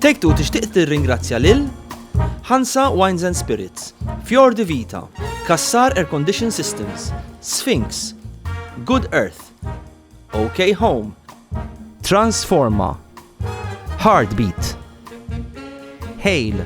Take Two tixtieq tirringrazzja lil Hansa Wines and Spirits, Fjord Vita, Kassar Air Condition Systems, Sphinx, Good Earth, OK Home, Transforma, Heartbeat, Hail,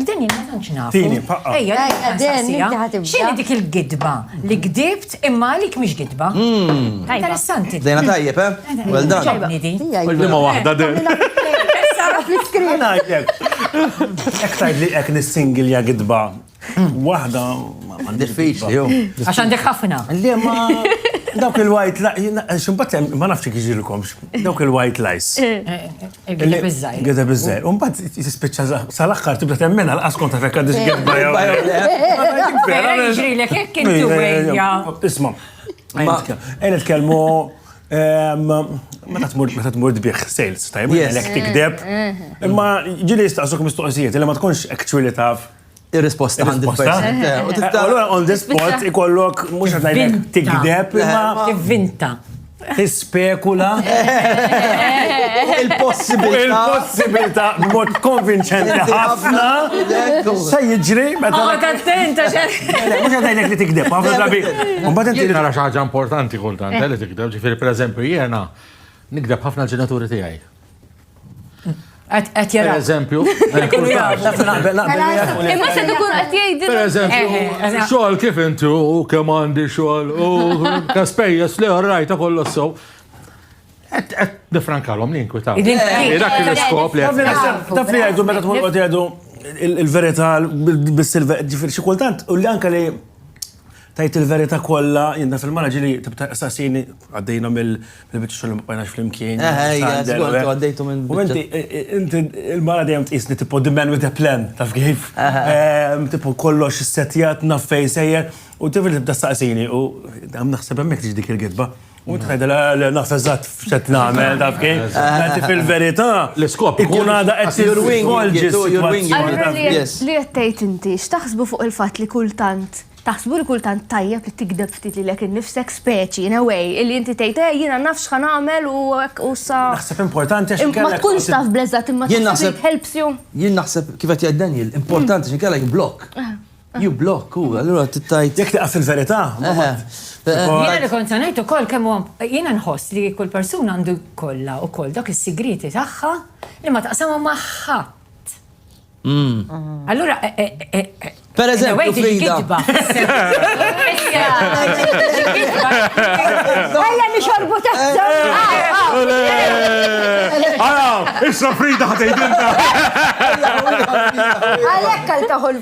Deni, ma tantx nafu. Tini, paqqa. Ejja, ejja, deni, ħatibda. Xini dik il-gidba li gdibt imma għalik mhix gidba. Hmm. Interessanti. Dejna tajjeb, eh? Well done. Kull ma waħda din. Sara fl-iskrin. Ek tajd li ek nis-singilja gidba. Waħda. Diffiċli, jo. Għax għandek ħafna. Li ma. Dawk il-white lies, ximbat ma nafx kieġilkomx, dawk il-white lies. Eh, eh, eh. Gideb iż-żajr. Gideb iż-żajr. U mbagħad tispiċċa sal-aħħar tibda temmena l-qas kont taf hekk għadix gidba jew. Ġrilek hekk intu ejja. Isma'. Ejn nitkellmu Meta tmur meta tmur tbieħ sales, tajb, għalek tikdeb. Imma ġili jistaqsuk mistoqsijiet, li ma tkunx actually taf Ir-risposta għandi persent. Allora on the spot ikollok mhux qed ngħidlek tikdeb imma tivvinta. Tispekula il-possibilità. Il-possibilità b'mod konvinċenti ħafna. Se jiġri meta. Ma tattenta xe. Mhux qed ngħidlek li tikdeb, ħafna drabi. Mbagħad inti nara xi ħaġa importanti kultant li tikdeb, ġifieri pereżempju jiena nikdeb ħafna l-ġenituri tiegħi. Għet jara. Per eżempju, Imma se dukun għet jgħid. Per eżempju, eh, eh, eh, xogħol kif intu, kemm għandi xogħol, u ta' spejjeż li għarrajta kollu s-sow. Et, et, nifrankalom li inkwitaw. Dak il-skop li għet. Taf li għajdu, meta t-mur għajdu, il-verita, bil-silver, ġifir, xikultant, u li anka li Tgħid il-verità kollha, jien naf il-mara ġieli tibda tistaqsini, għaddejna mill-biċċa xogħol li ma bqajnax flimkien. Eh, eh Eħe, Sander, żgur, eh. intu għaddejtu minn U biċċa. inti, eh, eh, inti il-mara dejjem tqisni tipo the man with a plan, taf kif? Ehm, Tipo kollox setjat naf fejn sejjer u tifel tibda staqsini u dam naħseb hemmhekk tiġi dik il-gidba. U tħed l-naf eżatt f'xed nagħmel taf kif. Għanti fil-verità. L-iskop ikun għada qed jirwingi. Allura li qed tgħid inti, x'taħsbu fuq il-fatt li kultant taħsbu li kultant tajjeb li tikdeb ftit li lek innifsek speċi in a way illi inti tgħid eh jiena naf x'ħa nagħmel u hekk u sa. Naħseb importanti għax inkella. Ma tkunx taf bleżat imma taħseb helps you. Jien naħseb kif qed jgħid Daniel, importanti x'inkella jimblok. You block, u, allura tittajt. Jek taqaf fil-verità. Jena li kont sanajt u koll kemmu, jena nħoss li kull persuna għandu kolla u koll dak il-sigrieti taħħa li ma taqsamu maħħat. Mm. Allura, eh, eh, eh, per eżempju, Frida. Għalla nixorbu taħta. Għala, issa Frida ħatejdinta. Għalek għal taħol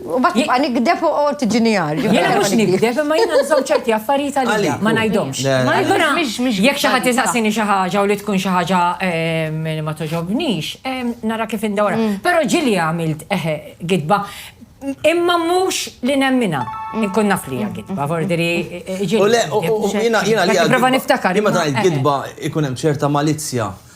U mbagħad nibqa' nigdeb u qgħod tiġini għar. Jiena mhux nigdeb imma jiena nżomm ċerti affarijiet għalija, ma ngħidhomx. Allura jekk xi ħadd isaqsini xi ħaġa u li tkun xi ħaġa li ma togħġobnix, nara kif indawrha. Però ġieli għamilt gidba, imma mhux li nemminha. Inkun naf li hija gidba, f'ordiri ġieli. U le, jiena li. Nipprova niftakar. Imma tgħid gidba jkun hemm ċerta malizzja.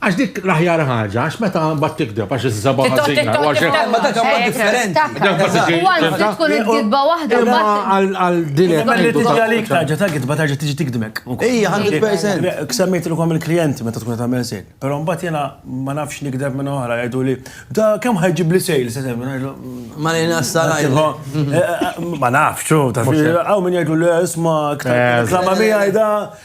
Għax dik l-aħjar ħaġa, għax meta mbagħad tikdeb għax iż-żaba ħażina. Ma dak huwa differenti. Huwa għandu tkun il-kitba waħda mbagħad. Għal din qed ngħidu. Tiġi għalik tarġa' ta' kitba tarġa' tiġi tikdmek. Ejja, 100%. Semmejt ilkom il-klijenti meta tkun qed tagħmel sejl. Però mbagħad jiena ma nafx nikdeb minn oħra jgħidu li da kemm ħajġib li sejl se semmi. Ma li nassaraj. Ma nafx, hawn min jgħidu le isma' iktar. Klama miegħi da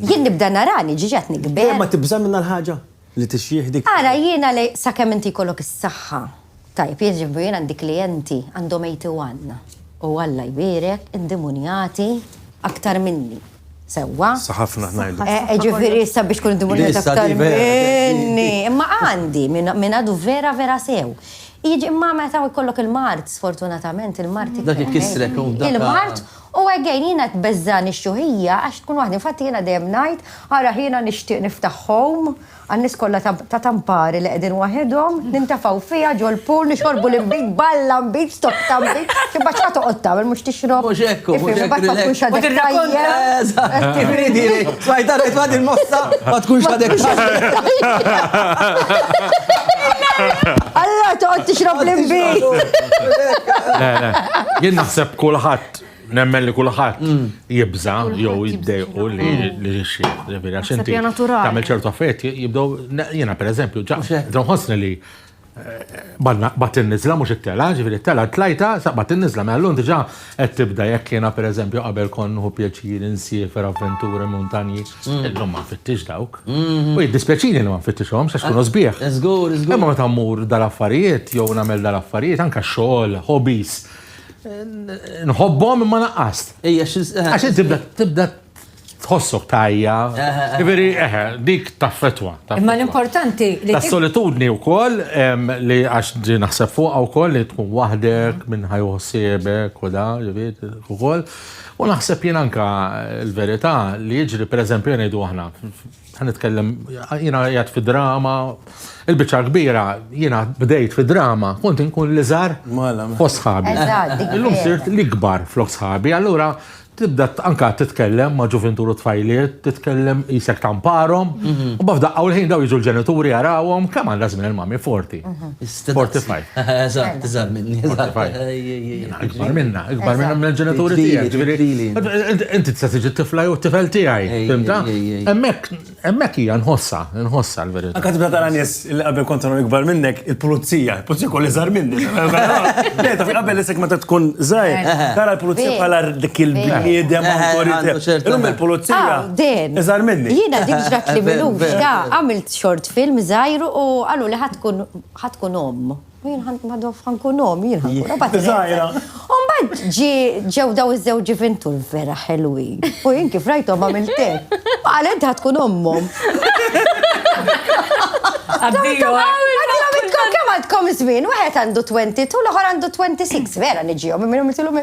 Jien nibda narani ġiex qed nikber. Dejjem ma tibża' minn dal-ħaġa? Li tixjih dik. Ara jiena li sakemm inti jkollok is-saħħa. Tajjeb, jieġifieri jien għandi klijenti għandhom 81 u Alla jbierek indimunjati aktar minni. Sewwa? Sa ħafna ngħidu. Jiġifieri sabiex tkun indimunjat aktar minni. Imma għandi min għadu vera vera sew. Imma meta jkollok il-mard, sfortunatament il-mard. Dak ikissrek u f'dak. Il-mard U again jiena tbeżżagħni x-xuħija għax tkun waħda, infatti jiena dejjem ngħid, ara jiena nixtieq niftaħ home għan-nies kollha ta' Tampari li qegħdin waħedhom, nintafgħu fiha ġol-pool, nixorbu l-inbid, balla nbid, stock ta' nbid, imbagħad x'ħa toqgħod tagħmel mhux tixrob? Mhux hekk hu, mhux hekk hu. Mhux hekk hu. Allora toqgħod tixrob l-inbid. Le, le. Jien naħseb Kulħadd, nemmen li kulħadd mm. jibża jew jiddejqu li mm. xi vera xinti. Tagħmel ċertu affett jibdew jiena pereżempju ġa nħossni li bat il-nizla mux it-tela, ġifiri it-tela t-lajta, bat il-nizla, ma l-lun diġa għed tibda jek jena per eżempju qabel kon hu pjaċir insiefer avventura montanji, mm. l-lum ma fittix dawk. Mm-hmm. U jiddispjaċini li ma fittix għom, xax kunu zbieħ. Zgur, zgur. Imma ma tammur dal-affarijiet, jow namel dal-affarijiet, anka xol, hobbies, Nħobbhom imma naqqast. Għax inti tibda tħossok tajja. Iveri, eħe, dik taffetwa. Imma l-importanti li. Ta' solitudni u koll, li għax ġi naħseb fuqa u koll li tkun wahdek minn ħajju sebek u da, ġivit, u koll. U naħseb jien anka l-verità li jiġri, per eżempju, jgħidu aħna, Ħa nitkellem, jiena jgħat fi drama, il-bicċa kbira, jiena bdejt fi drama, kont inkun li żar fost sħabi. Illum sirt li kbar flok sħabi, allura tibda anka titkellem ma' ġuventuru tfajliet, titkellem jisek tamparom, mhm. u bafda għawlħin daw jiġu l-ġenituri għarawom, kam għanda zmin il-mami forti. Mhm. 45. Eżatt, iżgħar minni. 45. Ikbar minna, ikbar minna minn ġenituri tiegħek. Inti tista' tiġi tifla jew tifel tiegħi. Fimta? Hemmhekk hemmhekk hija nħossha, nħossha l-verità. Anka tibda tara nies li qabel kont tagħmel ikbar minnek il-pulizija, il-pulizija kolli żgħar minni. Le, ta' qabel isek meta tkun żgħir, tara l-pulizija bħala dik il-bniedem awtorità. Illum il-pulizija. Iżgħar minni. Jiena dik ġrat li minux, għamilt short film żgħir u qaluli ħa tkun ħa tkun omm. U jien ħan madof ħan kun omm, jien ħan kun omm. Bad żgħira. U mbagħad ġi ġew daw iż-żewġ ġivintur vera ħelwin. U jien kif rajthom għamilt hekk. Qal int ħa tkun ommhom. Addio. Għadilhom intkom kemm għandkom żmien, wieħed għandu 22 l-oħor għandu 26, vera niġihom, imma jomiltilhom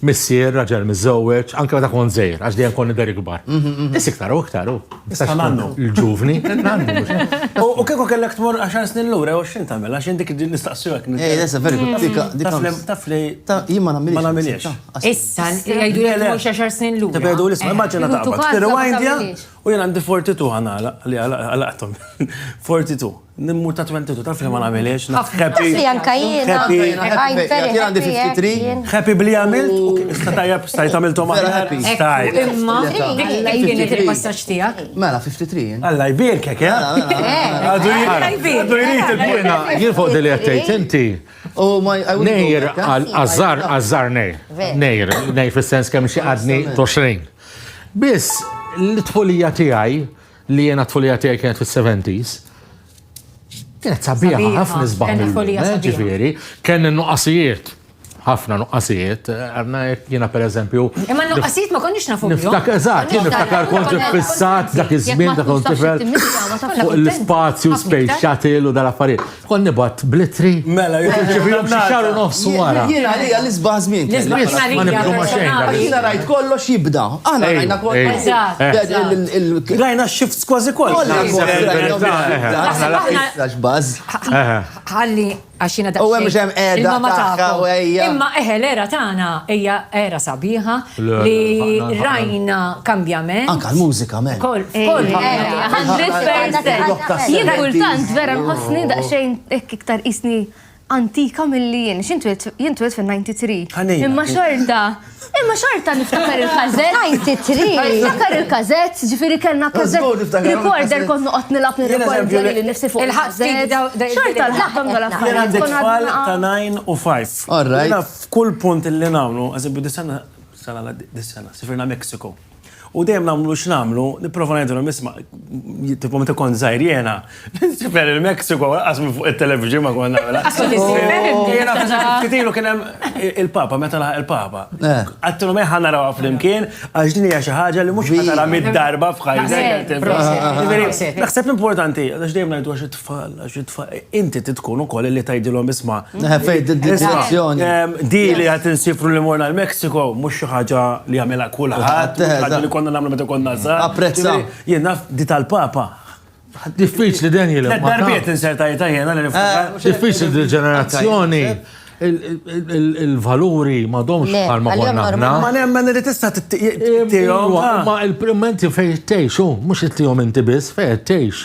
Missier, raġel miżżewweġ, anke meta kont żgħir, għax dejjem kont nidher ikbar. Mhm, mhm. Biss iktar u iktar u. Issa nannu. Il-ġuvni. U kieku kellek tmur 10 snin lura jew 20 tagħmel għax indik nistaqsu hekk. Eh, lesa veru mm. dik dik. Taf li jien ma nagħmilx. Ma nagħmilx. Issa jgħidu li tmur 10 snin lura. Tibgħidu l-isma' immaġina taqbad. Tirrewindja u jien għandi 42 ħana li għalaqthom. 42. Nimmur ta' 22 taf li ma nagħmilhiex. Happy. Anka jien. Happy. Jien għandi 53. Happy bli għamilt u issa tajjeb stajt għamilthom aħjar. Stajt. Imma kienet il-passaġġ tiegħek. Mela 53. Alla jbierkek, eh? Għadu jrid il-buna. Jien fuq dili qed tgħid inti. Nejr għażar għażar nej. Nejr, nej fis-sens kemm xi għadni 20. Biss l-tfulija tiegħi Li jiena t-tfulija tiegħi kienet fis-seventies. Kienet sabiħa, ħafna nisbaħ mill-lum, ġifieri, kien nuqqasijiet ħafna nuqqasijiet, għanna jena per eżempju. Imma nuqqasijiet ma konniex nafu. Niftak, eżat, jena niftakar kont fissat dak iż-żmien ta' kont tifel l-spazju, space shuttle u dal-affarijiet. Kont nibgħat bl-ittri. Mela, jien irċevihom xi xahar u nofs wara. Jien għalija l-isbaħ żmien. L-isbaħ żmien ma nibdu ma xejn. Jiena rajt kollox jibda. Aħna rajna kollox. Eżatt. Rajna x-shifts kważi kollha. Ħalli għax jiena daqsxejn. U hemm xemm qiegħda. Imma eħe l-era tagħna hija era sabiħa li rajna kambjament. Anka l-mużika, men. Kol, kol, Jien kultant vera nħossni daqxejn iktar isni antika mill-li jien, xintwet fil-93. Imma xorta, imma xorta niftakar il-kazet. 93. Niftakar il-kazet, ġifiri kellna kazet. Rekorder kont noqot nilab nil-rekorder li nifsi fuq il-kazet. Xorta l-ħakam għal-affarijiet. Jena għandek tfal ta' 9 u 5. All right. F'kull punt illi nagħmlu, eżempju dis-sena, sena li għaddiet, dis-sena, sifirna Mexico. U dejjem nagħmlu x'nagħmlu, nipprova ngħidilhom isma', tipo meta kont żgħir jiena, nsifer il-Mexico lanqas minn fuq it-television ma kont nagħmilha. Għax kont insifer il-Mexico. Ftit ilu kien hemm il-Papa, meta laħaq il-Papa. Għedtilhom ejja ħa narawha flimkien għax din hija xi ħaġa li mhux ħa taraha mitt darba f'ħajtek. Naħseb importanti, għax dejjem ngħidu għax tfal, għax it-tfal, inti titkun ukoll li tajdilhom isma. Fejn d-direzzjoni. Di li għat insifru li morna l-Meksiko, mhux xi ħaġa li għamela kulħadd, ħaġa li konna nagħmlu meta konna żgħar. Apprezza. Jien naf di tal-Papa. Diffiċli den jilha. Darbiet insertajta jiena li niftakar. Eh, diffiċli di ġenerazzjoni il-valuri ma domx bħal ma konna ħna. Ma nemmen li tista t-tijom. Ma il-primenti fej t-tejx, mux t-tijom inti bis, fej t-tejx.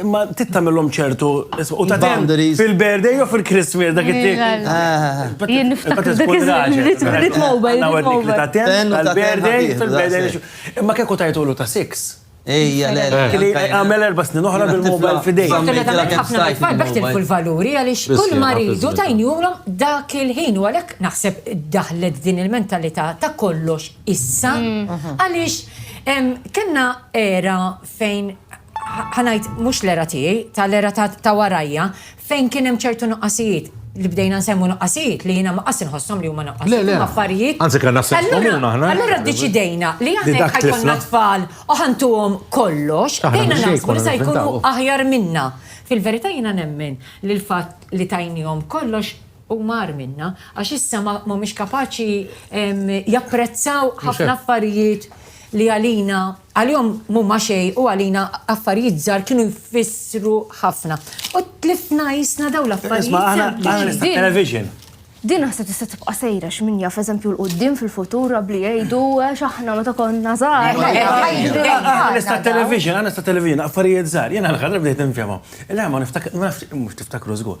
Imma trid tagħmilhom ċertu u ta' boundaries fil-birthday jew fil-Christmas dak it-tip. Jien niftakar dak iż-żmien mobile. Tal-birthday fil-birthday. Imma kieku tajtulu ta' six. Ejja, le, le. Kien jagħmel erba' snin oħra bil-mobile f'idejh. Fortunatament ħafna mill-tfal b'hekk tilfu l-valuri għaliex kull ma riedu tajniehulhom dak il-ħin u għalhekk naħseb daħlet din il-mentalità ta' kollox issa għaliex kellna era fejn ħa ngħid mhux l-era tiegħi, tal-era ta' warajja, fejn kien hemm ċertu nuqqasijiet li bdejna nsemmu nuqqasijiet li jiena ma qas inħossom li huma nuqqasijiet. Le, le, affarijiet. Anzi kellna sens komuna aħna. Allura ddeċidejna li aħna ħajkonna tfal u ħantuhom kollox, bdejna naħsbu li se jkunu aħjar minna. Fil-verità jiena nemmen li l-fatt li tajnihom kollox u mar minna, għax issa ma mhumiex kapaċi japprezzaw ħafna affarijiet li għalina. Għalihom m'huma xejn u għalina affarijiet żgħar kienu jfissru ħafna. U tlifna qisna dawn l-affarijiet sempliċi. Din naħseb tista' tibqa' sejra x'min jaf eżempju l quddiem fil-futur rabbli jgħidu għax aħna meta konna żgħar. Nista' television, nista' television, affarijiet żgħar, jiena l-ħadra bdejt infhimhom. Le ma niftakar, mhux tiftakru żgur,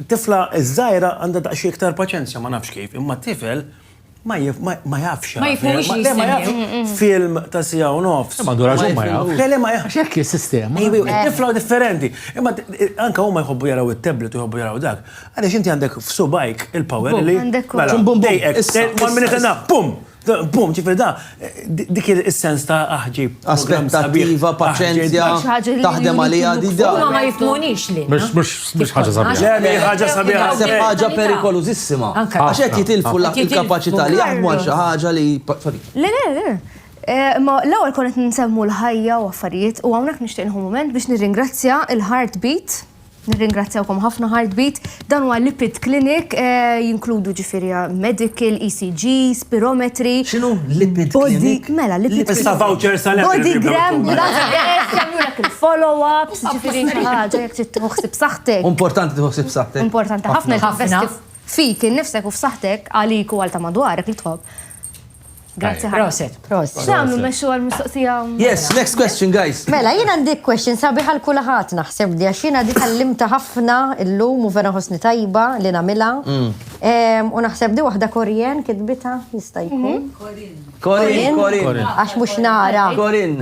Tifla żgħira għandha daqsxejn iktar paċenzja, ma nafx kif, imma tifel ma ma jafx jara film. Le ma jafx film ta' siegħa u nofs. Ma għandu raġun ma jafx. Le le ma jafx. Hekk hi s-sistema. Tifla hu differenti. Imma anke huma jħobbu jaraw it-tablet u jħobbu jaraw dak. Għaliex inti għandek f'subgħajk il-power li. Għandek. Bum bum bum. One minute and a half. Bum! Bum, ġifir da, dik il-sens ta' aħġi. Aspettattiva, paċenzja, taħdem għalija di da. Ma ma jifmunix li. Mux ħagġa sabiħa. Le, ħagġa sabiħa. Se ħagġa perikoluzissima. Għaxet jitilfu l-kapacità li jaħdmu għal ħagġa li. Le, le, le. Eh, ma l-ewwel konet nsemmu l-ħajja u affarijiet u hawnhekk nixtieq nħu moment biex nirringrazzja il-Heartbeat Nirringrazzjawkom ħafna Heartbeat. Dan huwa lipid clinic, eh, jinkludu ġifieri eh, medical, ECG, spirometri. X'inhu lipid clinic? Mela, lipid clinic. Issa vouchers għal Bodygram, jagħmlulek il-follow-ups, ġifieri xi ħaġa jekk trid tħossib saħħtek. Importanti tħossib saħħtek. Importanti ħafna ħafna fik innifsek u f'saħħtek għalik u għal ta' madwarek li tħobb. Grazie. Proset. Proset. Xamlu meċu għal-mistoqsija. Yes, next question, guys. Mela, jina għandik question sabi għal kullahat naħseb di għax jina dik għallimta ħafna illum u vera ħosni tajba li namila. Mm. U naħseb di wahda Korien kitbita jista' jkun. Mhm. Korin. Korin. Għax mux nara. Korin.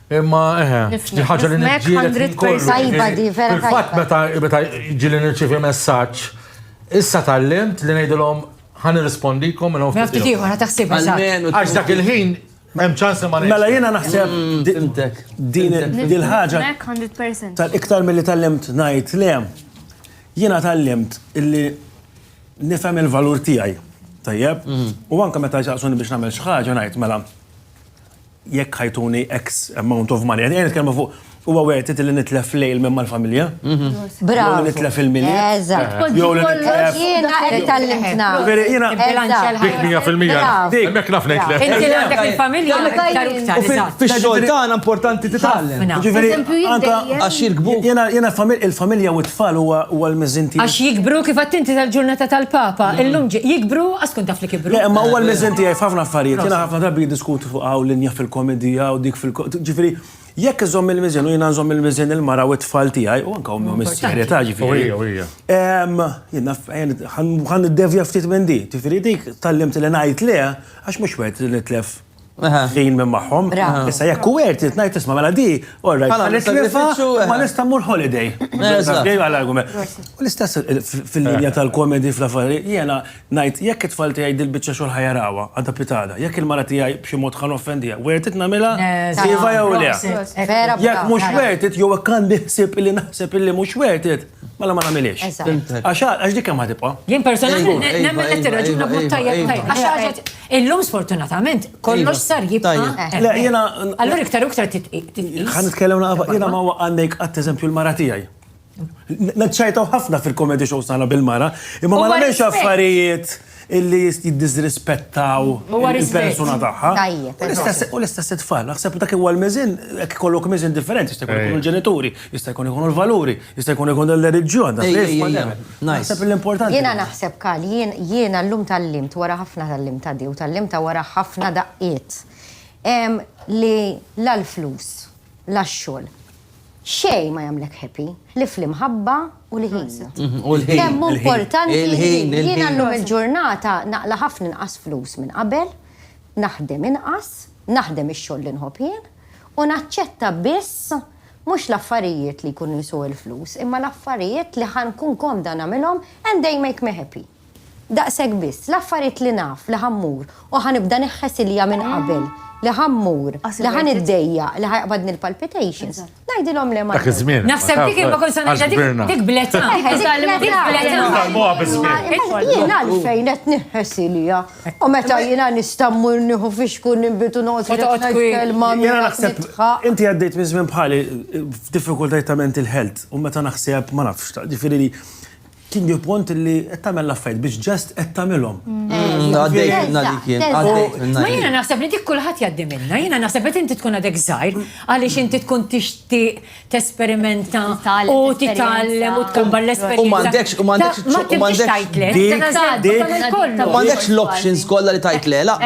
Imma eħe, di ħaġa li nifmek kollu. Tajba di, vera tajba. Fatt meta meta ġili nirċivi messaġġ, issa tal-limt li ngħidilhom ħan irrispondikom minn hawn. Ftit ieħor ħa taħsib Għax dak il-ħin Hemm ċans ma Mela jiena naħseb mm, din il-ħaġa tal-iktar milli tal-limt ngħid le. Jiena tal-limt illi nifhem il-valur tiegħi. Tajjeb? Mm. U anke meta ġaqsuni biex nagħmel xi ħaġa ngħid mela jekk ħajtuni X amount of money. Għedin nitkellmu fuq huwa worth it li nitlef lejl minn mal-familja. Bravo. Jew nitlef il-mini. Eżatt. Jew li nitlef. Jiena qed tallimtna. Jiena dik 100%. Dik mek naf nitlef. Inti għandek il-familja iktar iktar. Fix-xogħol tagħna importanti titgħallem. Ġifieri anke għax jirkbu. Jiena il-familja u t-tfal huwa l-miżinti. Għax jikbru kif għattinti tal-ġurnata tal-Papa, illum jikbru għaskun taf Le, ma huwa l-miżen tiegħi f'ħafna affarijiet. Jiena ħafna drabi jiddiskutu fuq hawn linja fil-komedija u dik fil ġifieri, jekk iżomm il-miżen u jiena nżomm il-miżen il-mara u t-tfal tiegħi u anke ommi u missierja ta' ġifieri. U hija, u hija. Ħa niddevja ftit minn din. Ġifieri dik tgħallimtni li ngħid le għax mhux wert li nitlef. ħin minn magħhom. Issa jekk hu għert irid ngħid isma' mela di, all right, ma nista' nifgħu, ma nista' mmur holiday. U l-istess fil-linja tal-komedi fl-affari, jiena ngħid jekk it-tfal tiegħi dil-biċċa xogħol ħa jarawha għadha pitada, jekk il-mara tiegħi b'xi mod ħa noffendiha, għert irid nagħmilha iva jew le. Jekk mhux għert irid jew hekk għandi ħsieb illi naħseb illi mhux għert irid, mela ma nagħmilhiex. Għax dik kemm ħa tibqa'. Jien personalment nemmen li tirraġuna b'mod tajjeb. Illum sfortunatament kollox sar jibqa'. Le jiena. Allura iktar u iktar titqis. Ħa nitkellem naqfa jiena ma waqgħandek qatt eżempju l-mara tiegħi. Naċċajtaw ħafna fil-comedy shows tagħna bil-mara, imma ma nagħmilx affarijiet illi jiddisrispettaw il-persuna tagħha. U l-istess it-tfal, naħseb dak huwa l-miżin, jekk ikollok miżin differenti, jista' jkun il-ġenituri. Jista' jkun ikunu l-valuri, jista' jkun ikun l-reliġjon, dak li Naħseb l-importanti. Jiena naħseb kal, jiena llum tal-limt wara ħafna tal-limt ta' di u tal-limt ta' wara ħafna daqqiet. Li la l-flus, la x-xogħol, xejn ma jagħmlek happy ħlief l-imħabba u l-ħin. U l-ħin. Kemm hu importanti l-ħin. Jiena llum il-ġurnata naqla' ħafna inqas flus minn qabel, naħdem inqas, naħdem ix-xogħol li nħobb jien u naċċetta biss Mhux l-affarijiet li jkunu jsuq l-flus, imma l-affarijiet li ħa nkun komda nagħmilhom and they make me happy. Daqshekk biss, l-affarijiet li naf li ħa mmur u ħa nibda neħħes ilija minn qabel li ħa mmur, li ħa niddejjaq, li ħa jaqbadni l-palpitations, ngħidilhom le ma rridx. Naħseb dik il-ma kont se ngħidha dik bl-età. Dik bl-età. Jien għalfejn qed neħħes ilija? U meta jina nistammu nieħu fixku nimbitu noqgħod Fotqgħod ħafna kwi- kelma Jena minn naħseb, nitħaq. inti għaddejt minn żmien bħali f'diffikultajiet ta' mental health u meta naħseb ma nafx, ta' ġifieri li kien ġie punt li qed tagħmel l-affarijiet biex ġest qed tagħmilhom. Għaddejt minna li kien, għaddejt minna Ma li jiena kien. naħseb li dik kulħadd jgħaddi minna, jiena naħseb li inti tkun għadek żgħir għaliex inti tkun tixtieq tesperimenta u titgħallem u tkombar l-esperjenza. U m'għandekx, u m'għandekx, u m'għandekx tajtlek. U m'għandekx l-options kollha li tajtlek. La,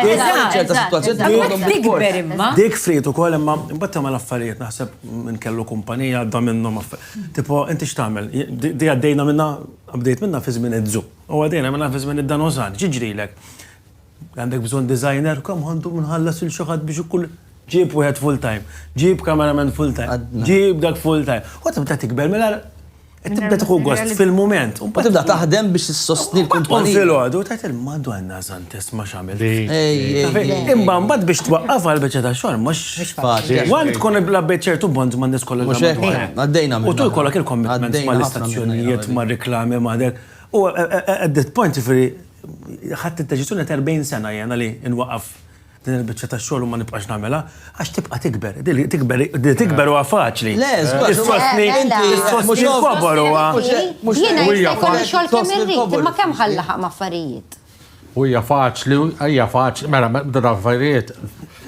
ċerta situazzjoni tikber imma. Dik frit ukoll imma mbagħad tagħmel affarijiet naħseb minn kellu kumpanija għadda minnhom affarijiet. Tipo inti x'tagħmel? Di għaddejna minnha, bdejt minnha fi żmien iż-żu. U għaddejna minnha fi żmien id-danozan. X'jiġrilek? Għandek bżonn designer? Come on, dum nħallas lil xi ħadd biex ikun. Ġib wieħed full-time. Ġib cameraman full-time. Ġib dak full-time. U tibda tikber mela qed tibda tieħu gost fil-mument. U tibda taħdem biex issostni l-kumpanija. U filgħodu tgħid il-Madonna Santis ma x'għamilt. Imma mbagħad biex twaqqaf għal biċċa ta' xogħol mhux faċli. Wan tkun iblabbejt ċertu bonds ma' nies kollha. Mhux hekk. Għaddejna minn. U tul kollok il-commitments mal-istazzjonijiet, mar-reklami, ma' dek. U at that point, ġifieri, Ħadt id-deċiżjoni għad 40 sena jiena li nwaqqaf din il-biċċa ta' xogħol u ma nibqax nagħmilha għax tibqa' tikber. Tikber huwa faċli. Le, issostni l-kobor huwa. Jiena jista' jkolli xogħol kemm irrid, imma kemm ħallaħaq ma' affarijiet. U hija faċli, hija faċli, mela bda affarijiet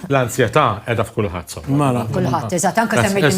l-ansjetà qiegħda f'kulħadd. Mela. Kulħadd, eżatt, anke semmejt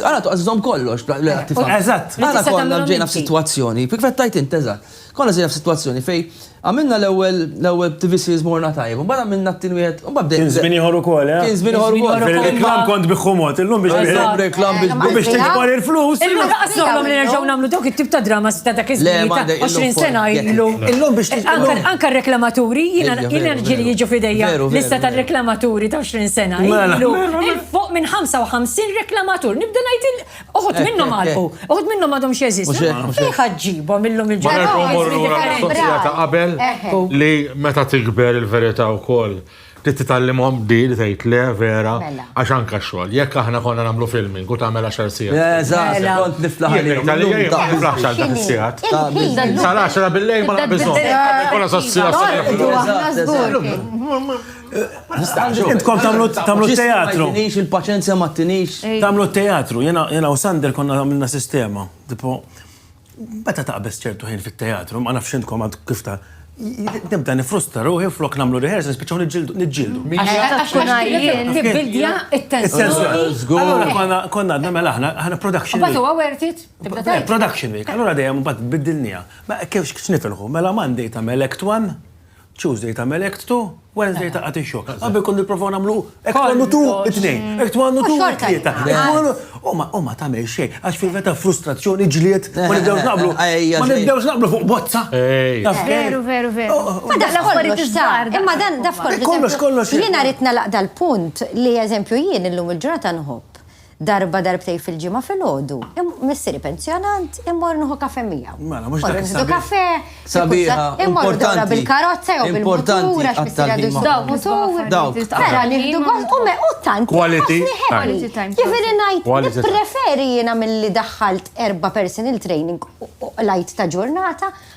Għana tu għazizom kollox, l-għattif. Eżatt. Għana konna ġejna f-situazzjoni, kif għettajt int, eżatt. Konna ġejna f-situazzjoni fej għamilna l-ewel, l-ewel TV series morna tajb, un bada minna t-tin wieħed, un bada. Kien zbini ħor ukoll, eh? Kien zbini ħor ukoll. Reklam kont biħumot, illum biex biħumot. Reklam biex biħumot. Biex tiġbar il-flus. Illum daqas noħlom li nerġaw namlu dawk it-tip ta' drama sita dak iż-żmien ta' 20 sena illu. Illum biex tiġbar. Anka reklamaturi, jina ġili jiġu fidejja lista tal-reklamaturi ta' 20 sena. Fuq minn 55 reklamatur, nibda ngħid il uħud minnhom għalqu, uħud minnhom għadhom x'jeżistu. Fejn ħaġġibhom illum il-ġurnata. ta' qabel li meta tikber il-verità wkoll li titgħallimhom di li tgħid le vera mela. għax anke x-xogħol. Jekk aħna konna nagħmlu filming u tagħmel għaxar sigħat. Eżatt, mela. kont niflaħ għalihom. Niflaħx għal dak is-sigħat. Sal-10 bil-lejl ma naqbiżhom. Konna sa' sigħat. Intkom tamlu teatru. Tinix il-paċenzja ma tinix. Tamlu teatru, jena u Sander konna għamilna sistema. Tipo, bata taqbess ċertu ħin fit-teatru, ma nafx intkom għad kif ta' nibda nifrusta ruħi flok namlu rehearsals biex nġildu. Nġildu. Nibildja il-tensjoni. Allora konna għadna mela ħna, ħna production. Bata u għawertit? Production week. Allora dejjem bat biddilnija. Ma kif xnifilħu, mela Monday ta' melek twan? Tuesday tagħmel act two, Wednesday ta' qati xogħol. Qabel kont nipprovaw nagħmlu act one u two, it-tnejn, act one u two, it-tlieta. U ma tagħmel xejn, għax fil ta' frustrazzjoni ġlied, ma nibdewx naqblu. Ma nibdewx naqblu fuq bozza. Veru, veru, veru. Fadaq l-affarijiet iż-żgħar. Imma dan daf kollox. Kollox, kollox. Jiena rid nalaq dal-punt li eżempju jien illum il-ġurnata nħobb Darba darbtejn fil-ġimgħa filgħodu, missieri pensjonant, immorru nieħu kafè miegħu. Mela, mhux dak Nieħdu kafè, sabiħa, immorru dawra bil-karozza jew bil-mutur għax missieri għadu jsuq mutur. Dawk. Mela nieħdu gost u me u tant. Quality time. Jifieri ngħid nippreferi jiena milli daħħalt erba' personal training u lajt ta' ġurnata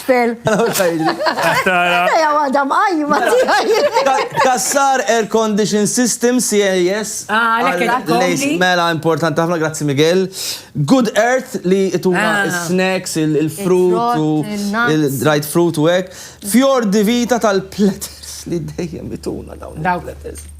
Fel. Tara. Ja għada mqajma Kassar Air Condition System, CAS. Ah, l-ek Għal- il-kombi. lejs- Mela, importanti ħafna, grazzi Miguel. Good Earth li ituna Ah. il-snacks, il- il-fruit, u Il-frott, il-nuts. il-dried fruit u hekk. Fjord di Vita tal-platters li dejjem ituna dawn Dawk. il-platters.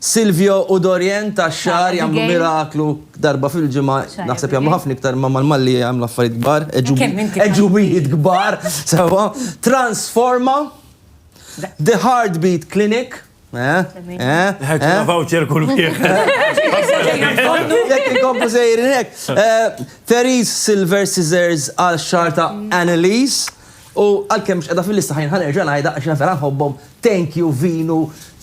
Silvio u Dorian tax-xagħar jagħmlu miraklu darba fil-ġimgħa, naħseb jagħmlu ħafna iktar imma mal-Malli jagħmlu affarijiet kbar, għeġubijiet kbar, sewwa, Transforma, The Heartbeat Clinic, eħ, eħ, eħ. Ħa voucher kull wieħed. Jekk inkomplu sejrin hekk. Therese Silver Scissors għal xagħar ta' Anneliese u għalkemm mhux qiegħda fil-lista ħa nerġa' ngħidha għax jiena vera nħobbhom, Thank You Vinu,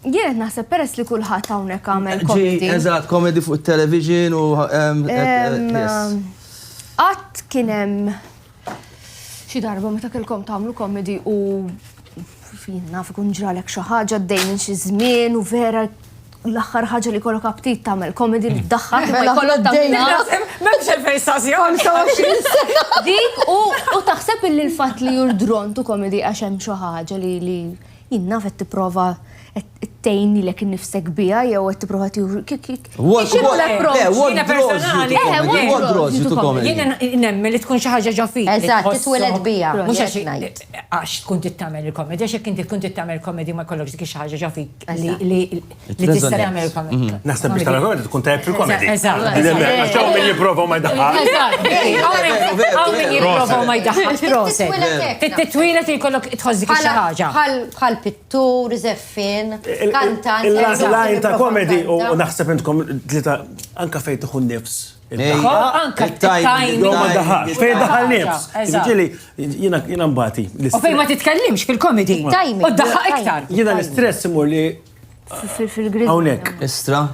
Jien qed naħseb peress li kulħadd hawnhekk għamel komedi. Eżatt, komedi fuq it-television u Qatt kien hemm xi darba meta kellkom tagħmlu komedi u fin naf ikun ġralek xi ħaġa dejjem minn xi żmien u vera l-aħħar ħaġa li kollok aptit tagħmel komedi li ddaħħak mela, ma jkollok tagħmel. M'hemmx il-fejsazzjoni. Dik u taħseb illi l-fatt li jurdrontu komedi għax hemm xi ħaġa li Jien naf qed tipprova tgħin lilek innifsek biha jew qed tipprova tieħu Jien nemmen li tkun xi ħaġa ġo fik. Eżatt, titweled biha. Mhux għax ngħid. Għax tkun trid tagħmel il-komedi, għax jekk inti tkun trid tagħmel komedi ma jkollokx dik xi ħaġa ġo fik li Li tista' tagħmel il-komedi. Naħseb biex tagħmel komedi tkun tajjeb fil-komedi. Eżatt. Għax hawn min jipprova ma jdaħħal. Eżatt. Hawn min jipprova ma jdaħħal. Proset. Fit-titwila tikollok tħossik xi ħaġa. Bħal pittur, żeffin, kantant. Il-lajn ta' komedi u naħseb intkom tlita anka fejn tieħu nifs. Anka tajmin. Ma daħal, fej daħal nifs. Ġili, jina mbati. U fej ma titkellimx fil-komedi. Tajmin. U daħal iktar. Jina l-istress imur li fil-grid. Hawnhekk. Istra.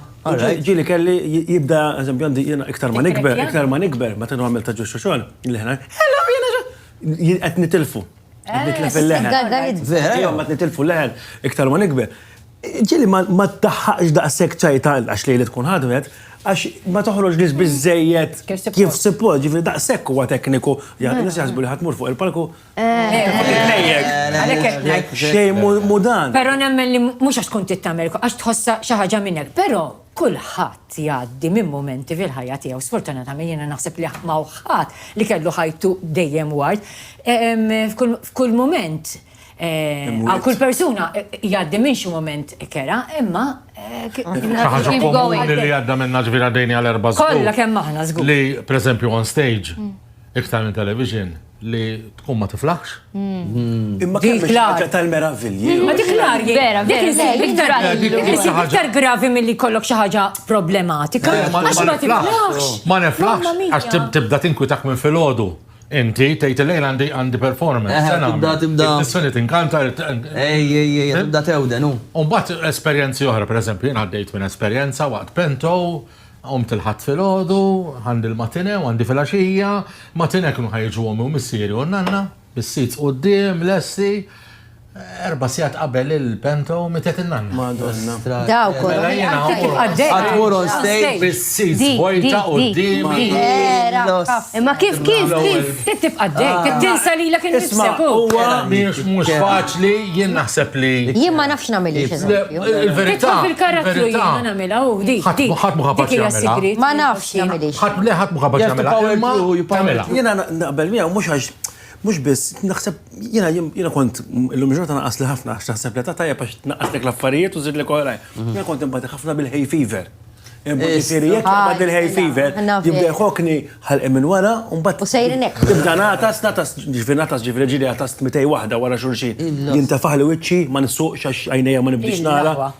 Ġili kelli jibda, eżempju, għandi jena iktar ma nikber, iktar ma nikber, ma tenu għamil ta' ġuxu xogħol, li ħna, hello, jena xogħol, qed nitilfu. Qed eh, nitlef il-leħen. Vera, ma nitilfu l-leħen, iktar ma nikber. Ġili ma taħħaqx daqshekk ċajta għax li li tkun ħadmet, għax ma toħroġ li bizzejiet kif support, ġifri daqshekk huwa tekniku, jgħid, nis jaħsbu li ħatmur fuq il-palku Xej mudan. Pero nemmen li mux għax tkun tittamel, għax tħossa xaħġa minnek. Pero kullħat jgħaddi minn momenti fil-ħajja tiegħu. Sfortunatament jiena naħseb li ma ħadd li kellu ħajtu dejjem ward. F'kull moment, għal kull persuna jgħaddi minn xi moment kera, imma ħaġa komuni li għadda minna ġvira dejni għal erba' Kollha kemm aħna żgur. Li, per on stage, Iktar minn television li tkun ma tiflaħx. Imma kemm biex ħaġa tal-meravilji. Ma dik l-ar, vera, vera. Iktar gravi mill-li kollok xaħġa problematika. Ma niflaħx. Ma niflaħx. Għax tibda tinkwitak minn fil-ħodu. Inti, tejt il-lejn għandi għandi performance. Tibda, tibda. Tissuni tinkanta. Ej, ej, ej, tibda tewden, u. Umbat esperienzi oħra, per eżempju, jien għaddejt minn esperienza waqt pento, Qomt il-Ħadd filgħodu, għandi l-matinée u għandi filgħaxija. Matinée kienu ħa jiġu ommi u missieri u n-nanna, bis-seats quddiem, lesti. Erba' sigħat qabel il-bento mietet in-nanna. Madonna. Dawk u. Mela jiena mmur. Qatt mur on stage bis-seats vojta quddiemi. Imma kif, kif, kif? Trid tibqa' dej, trid tinsa lilek innifsek u. Huwa mhux mhux faċli, jien naħseb li. Jien ma nafx nagħmel hekk. Il-verità. Titfa' fil-karattru jien. Ħadd mhu kapaċi jagħmilha. Ma nafx jien. Le ħadd mhu kapaċi jagħmilha. Imma tagħmilha. Jiena naqbel miegħu mhux għax mhux biss naħseb jiena jiena kont illum il-ġurnata naqasli ħafna għax naħseb l-età tajjeb għax tnaqqaslek l-affarijiet u żidlek oħrajn. Jiena kont inbati ħafna bil-hay fever. Ġifieri jekk naqbad il-hay fever, jibda jħokkni ħalqi minn wara u mbagħad. U sejrin hekk. Tibda nagħtas, nagħtas, ġifieri nagħtas ġifieri ġieli għatast mitej waħda wara xulxin. Jintefaħli wiċċi, ma nsuqx għax għajnejja ma nibdiex nara.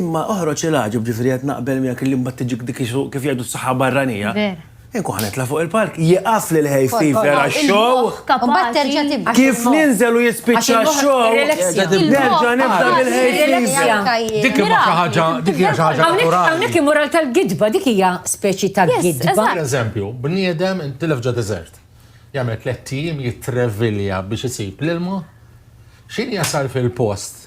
Imma oħroġ il-għaġeb, ġifieri qed naqbel miegħek illi mbagħad tiġik dik kif jgħidu s-saħħa barranija. Vera. Inkun ħa nitla' fuq il-palk, jieqaf lil ħej fifer għax-show. Mbagħad terġa' tibda. Kif ninżel u jispiċċa x-show. Nerġa' nibda bil-ħej fifer. Dik imma xi ħaġa, dik hija xi ħaġa naturali. Hawnhekk immoral tal-gidba, dik hija speċi ta' gidba. Per eżempju, bniedem intilef ġo deżert. Jagħmel tliet tim jitrevilja biex isib l-ilma. X'inhi jasal fil-post?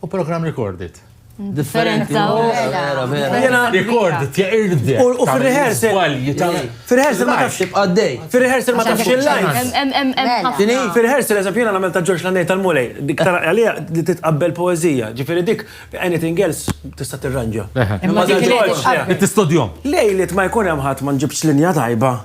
U program recorded. Differenti. Vera, vera. Jena recorded, ja irdi. U fil-rehearsal. Fil-rehearsal ma tafx. Tibqa d-dej. Fil-rehearsal ma tafx il-lajn. Dini, fil-rehearsal eżem jena namel ta' George Lannej tal-Mulej. Dik tara għalija li titqabbel poezija. Ġifiri dik, anything else, tista' tirranġa. Imma dik il-ġorġ. Tistodjom. Lejlit ma jkun hemm ħadd ma nġibx linja tajba.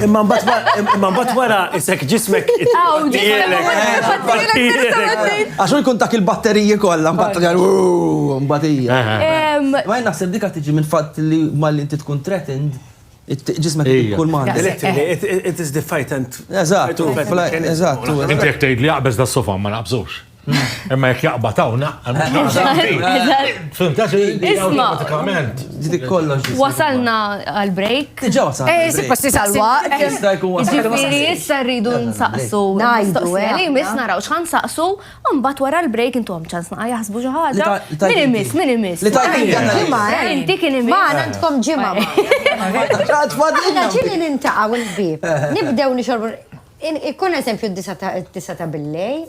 Imma mbagħad wara isek ġismek. Għax jkun dak il-batteriji kollha mbagħad mbagħad hija. Ma naħseb dik tiġi minn fatt li malli inti tkun threatened ġismek kull ma It is the fight and. Eżatt, eżatt. Inti jekk tgħid li jaqbeż da sofa ma naqbżux. Imma jek jaqbad hawn, Isma. Dik kollox. Wasalna għal break. Diġà wasalna. Eh, si passi sal-waqt. Jista' jkun wasalna. Ġifieri issa rridu nsaqsu. Ngħidu. Eh, li miss naraw x'ħan saqsu, mbagħad wara l-break intom ċans naqa' jaħsbu xi ħaġa. Min imiss, min imiss. Li tajt ġimgħa. Eh. Inti kien imiss. Ma għandkom ġimgħa. Għadfadilna. Ġieli nintaqgħu l-bib. Nibdew nixorbu. Ikkun eżempju d-disa ta' billej.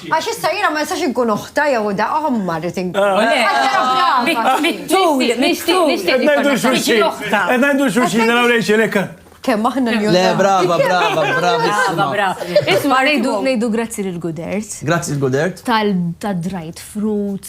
Għax issa jiena ma nistax inkun oħta jew da omma rrid inkun. Kemm aħna l Le, brava, brava, brava. Isma' ngħidu ngħidu grazzi lil Gudert. Grazzi l-Gudert. Tal-dried fruit.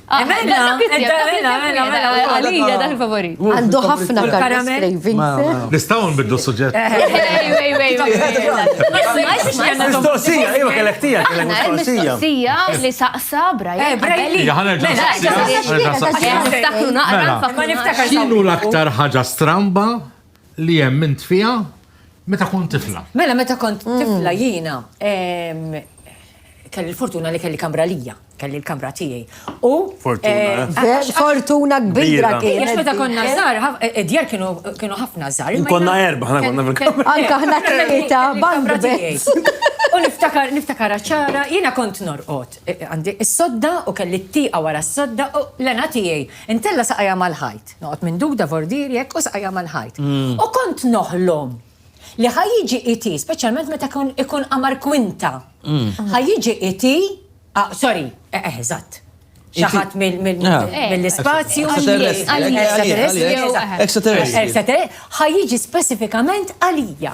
Għandu ħafna Nistaw nbiddu suġġett. Mistoqsija, iva kellek tija, kellek mistoqsija. li saqsa Brian. Xinu l-aktar ħaġa stramba li hemm int fiha meta kont tifla. Mela meta kont tifla jiena kelli l-fortuna li kelli kamra lija, kelli l-kamra tiegħi. U fortuna kbira kien. Għax meta konna żgħar, id-djar kienu ħafna żgħar. Konna erba' ħana konna fil-kamra. Anke ħna tlieta, banda tiegħi. U niftakar, niftakar ċara, jiena kont norqod. Għandi s-sodda u kelli t-tieqa wara s-sodda u l-għana tiegħi. Intella saqajja mal-ħajt. Noqgħod minn Duda Vordier jekk u saqajja mal-ħajt. U kont noħlom li ħa jiġi iti, speċjalment meta ikun qamar kwinta, ħa jiġi iti, ah, sorry, eh, eh, eżatt, xaħat mill-spazju. Ħajjiġi specifikament għalija.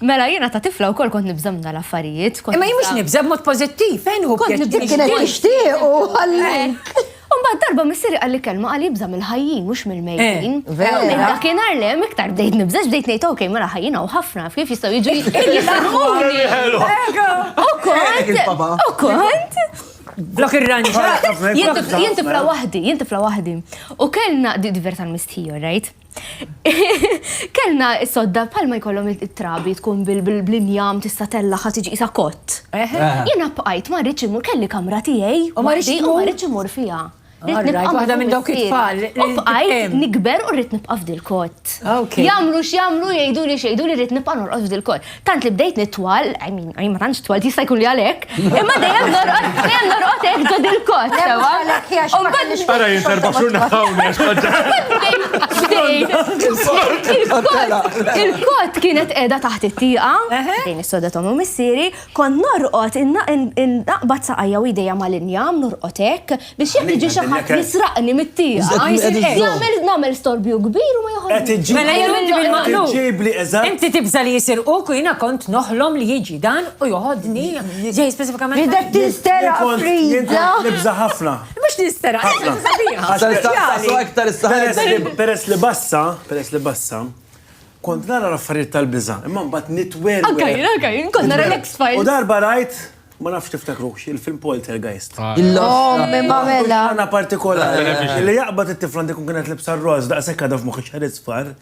Mela jiena ta' tifla wkoll kont nibża' minn dal-affarijiet. Imma jien mhux nibża' b'mod pożittiv, fejn hu pjaċir. Kont nibża' kienet tixtiequ għalik. U mbagħad darba missieri qalli kelma qal jibża' mill-ħajjin mhux mill-mejtin. U minn dakinhar le hemm iktar bdejt nibża' x'bdejt ngħid ok mela ħajjin hawn ħafna kif jistgħu jiġu jisarquni. U kont, u kont. Flok irranġa. Jien tifla waħdi, jien tifla waħdi. U kellna diversa l-mistħija, right? Kellna s-sodda bħalma jkollhom it-trabi tkun bil-injam tista' tella ħa tiġi isa kott. Jiena bqajt ma rridx imur kelli kamra tiegħi u ma rridx imur fiha. Waħda minn dawk it-tfal. U bqajt nikber u rrid nibqa' f'dil kott. Jagħmlu x'jagħmlu jgħiduli x'jgħiduli rrid nibqa' norqod f'dil kott. tant li bdejt nitwal, I mean, I ma tantx twal, jista' jkun li għalhekk, imma dejjem norqod, dejjem norqod hekk ġod il-kot, sewa. Ara jien serba xurna hawnna Il-kot kienet qiegħda taħt it-tieqa, din is-soda tomu missieri, kont norqod innaqbad saqajja u jdejja mal-injam, norqod hekk, Biex jekk jiġi xi ħadd jisraqni mit-tieqa, jagħmel nagħmel storbju kbir u ma joħodx. Mela jew inti bil-maqlub. Inti tibża' li jisirquk u jiena kont noħlom li jiġi dan u joħodni ġej speċifikament. Bidek tistera friża. Nibża' ħafna. Mhux nistera. Peress li bassa, peress li bassa, kont nara l-affarijiet tal-biża', imma mbagħad nitwerwer. Anke jien, anke jien, kont nara l-X-Files. U darba rajt Ma nafx tiftakrux, il-film Poltergeist. Ommi ma mela. Għana partikolari. Li jaqbad it-tifla għandi kun kienet libsa r-roz daqshekk għadha f'moħħi xħarid sfar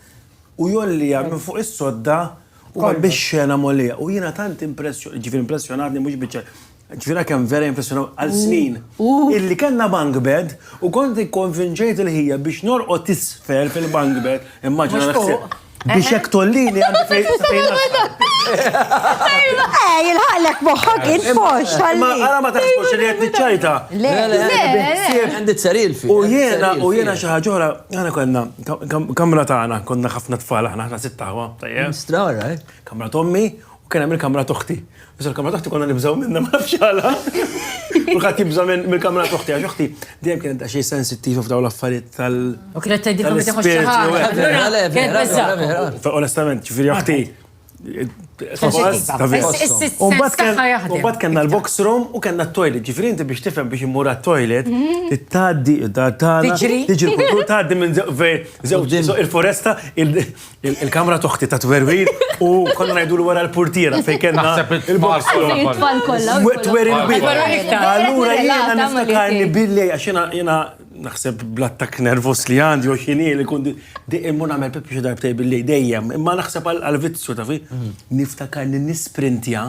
u jolli għam minn fuq is-sodda u għam biex xena molija. U jiena tant impressjonat, ġifier impressjonatni mhux biċċa ġvira kem vera impressjonaw għal snin. Illi kanna bank bed u kont ikkonvinċejt il-ħija biex norqot isfel fil-bank bed. Immaġina l-ħsib. Biex jek tollini għandi fejn fejn. Eh, jilħaqlek moħħok il-fox tal Għara ma taħsbux li għed nċajta. Le, le, le. Għandi t-saril fi. U jena, u jena xaħġora, għana konna, kamra taħna, konna ħafna tfal, ħafna sittaħwa. Straħra, eh? Kamra tommi, u kena mill kamra toħti. Iżda l-kamra taħti konna nibżaw minna ma nafx għala. Kulħadd jibża mill-kamra toħti għax oħti dejjem kienet xi sensittiv f'daw l-affarijiet tal. U kienet tgħidilkom li tieħu xi ħaġa. Onestament, ġifieri oħti. Umbat kena l-box room u kena t-toilet, ġifiri inti biex tifem biex immura t-toilet, t-taddi, t-taddi, t-taddi minn zewġ il-foresta, Il-kamra toħti ta' twerwir u konna ngħidu l wara l-portiera fejn kellna il-box kollha. Twerwir bit. Allura jiena niftakar li billi għax jiena naħseb bl-attak nervus li għandi u xini li kundi dejjem mun għamel pippi xi darbtej billi dejjem, imma naħseb għal-vizzju ta' fi, niftakar li nisprintja